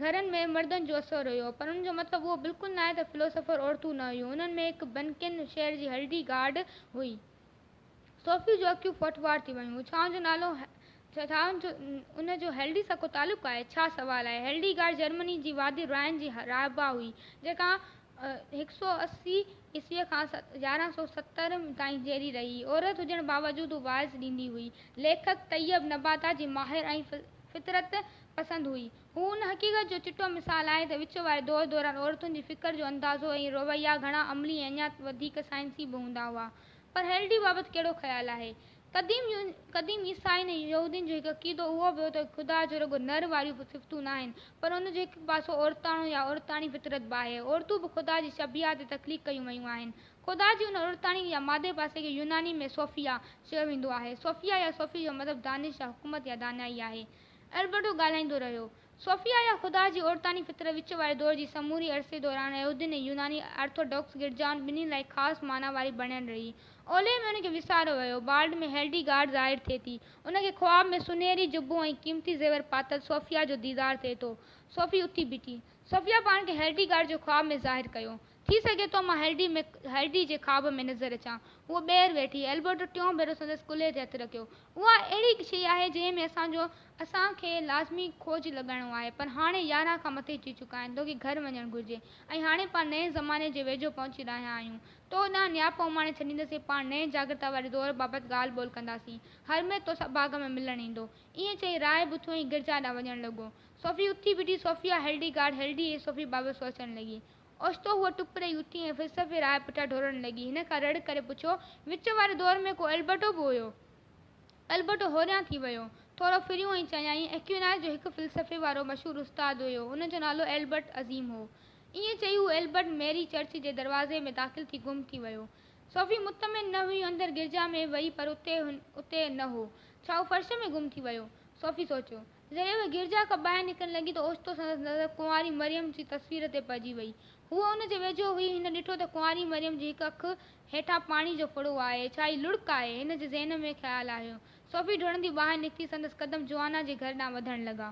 گهرن ۾ مردن جو اثر هيو پر ان جو مطلب اهو بلڪل ناهي ته فلسفر عورتون نه هيون. انهن ۾ هڪ بنڪن شهر جي هلڊي گارڊ هئي. صوفيء جون اکيون ڦوٽ ٻار ٿي ويون. ڇانو جو نالو ان جو هيلڊي سان ڪو تعلق آهي؟ ڇا سوال آهي؟ هيلڊي گارڊ جرمني جي وادي رائن جي راهبا هئي، جيڪا هڪ سؤ اسي عيسويء کان يارهن سؤ ستر تائين جيئري رهي. عورت هجڻ باوجود هوء وعظ ڏيندي هئي. ليکڪ طيب نباتات جي ماهر ۽ فطرت پسند هئي. هو ان حقيقت جو چٽو مثال آهي ته وچ واري دور دوران عورتن جي فڪر جو اندازو ۽ رويا گهڻا عملي ۽ اڃا وڌيڪ سائنسي به هوندا هئا. پر هيلڊي بابت ڪهڙو خيال آهي؟ قديم قديم عيسائين ۽ يهودين جو هڪ عقيدو اهو به هو ته خدا جو رڳو نر واريون صفتون ناهن، پر ان جو هڪ پاسو عورتاڻو يا عورتاڻي فطرت به آهي. عورتون به خدا جي شبيهه تي تخليق ڪيون ويون آهن. خدا جي ان عورتاڻي يا مادي پاسي کي يوناني ۾ سوفيا چيو ويندو آهي. سوفيا يا صوفي جو مطلب دانش يا حڪمت يا دانائي آهي. البرٽو ڳالهائيندو رهيو. صوفيا يا خدا جي عورتاڻي فطرت وچ واري دور جي سموري عرصي دوران يهودين ۽ يوناني آرٿوڊوڪس گرجائن ٻنهي لاء خاص معنيٰ واري بڻيل رهي. اولهه ۾ ان کي وساريو ويو. بالڊ ۾ هيلڊي گارڊ ظاهر ٿئي ٿي. ان کي خواب ۾ سنهري جبو ۽ قيمتي زيور پاتل صوفيا جو ديدار ٿئي ٿو. صوفي اٿي بيٺي. صوفيا پاڻ کي هيلڊي گارڊ جو خواب ۾ ظاهر ڪيو. ٿي سگهي ٿو مان هيلڊي ۾ هيلڊي جي خواب ۾ نظر اچان. هوء ٻيهر ويٺي. البرٽو ٽيون ڀيرو سندس ڪلهي تي هٿ رکيو. اها اهڙي شيء آهي جنهن ۾ اسان جو اسان کي لازمي کوج لڳائڻو آهي. پر هاڻي يارهن کان مٿي ٿي چڪا آهن. توکي گهر وڃڻ گهرجي. ۽ هاڻي پاڻ نئين زماني جي ويجهو پهچي رهيا آهيون. تو ڏانهن نياپ اماڻي ڇڏيندسين. پاڻ نئين جاڳرتا واري دور بابت ڳالهه ٻولهه ڪنداسين. هر مير توسان باغ ۾ ملڻ ايندو. ائين چئي راء بٿوئين گرجا ڏانهن وڃڻ لڳو. صوفي اٿي بيٺي. صوفيا هيلڊي گارڊ هيلڊي ۽ صوفي بابت سوچڻ لڳي. اوچتو هوء ٽپ ڏئي اٿي ۽ فلسفي راء پٺيان ڍورڻ لڳي. هن کان رڙ ڪري پڇيو، وچ واري دور ۾ ڪو البرٽو به هيو؟ البرٽو هوريان ٿي ويو. ٿورو ڦريو ۽ چيائين، ايڪويناس جو هڪ فلسفي وارو مشهور استاد هيو. ان جو نالو البرٽ عظيم هو. ائين چئي هو البرٽ ميري چرچ جي دروازي ۾ داخل ٿي گم ٿي ويو. صوفي مطمئن نه هيون اندر گرجا ۾ وئي پر اتي نه هو. ڇا هو فرش ۾ گم ٿي ويو؟ صوفي سوچيو. جڏهن هوء گرجا کان ٻاهر نڪرڻ لڳي ته اوچتو سندس نظر ڪنواري مريم جي تصوير تي پئجي ويئي. هوء ان جي ويجهو هئي. هن ڏٺو ته ڪنواري مريم جي هڪ اک هيٺان پاڻي جو ڦڙو آهي. ڇا هي لڙڪ آهي؟ هن جي ذهن ۾ خيال آيو. صوفي ڊوڙندي ٻاهر نڪتي. سندس قدم جوانا جي گهر ڏانهن وڌڻ لڳا.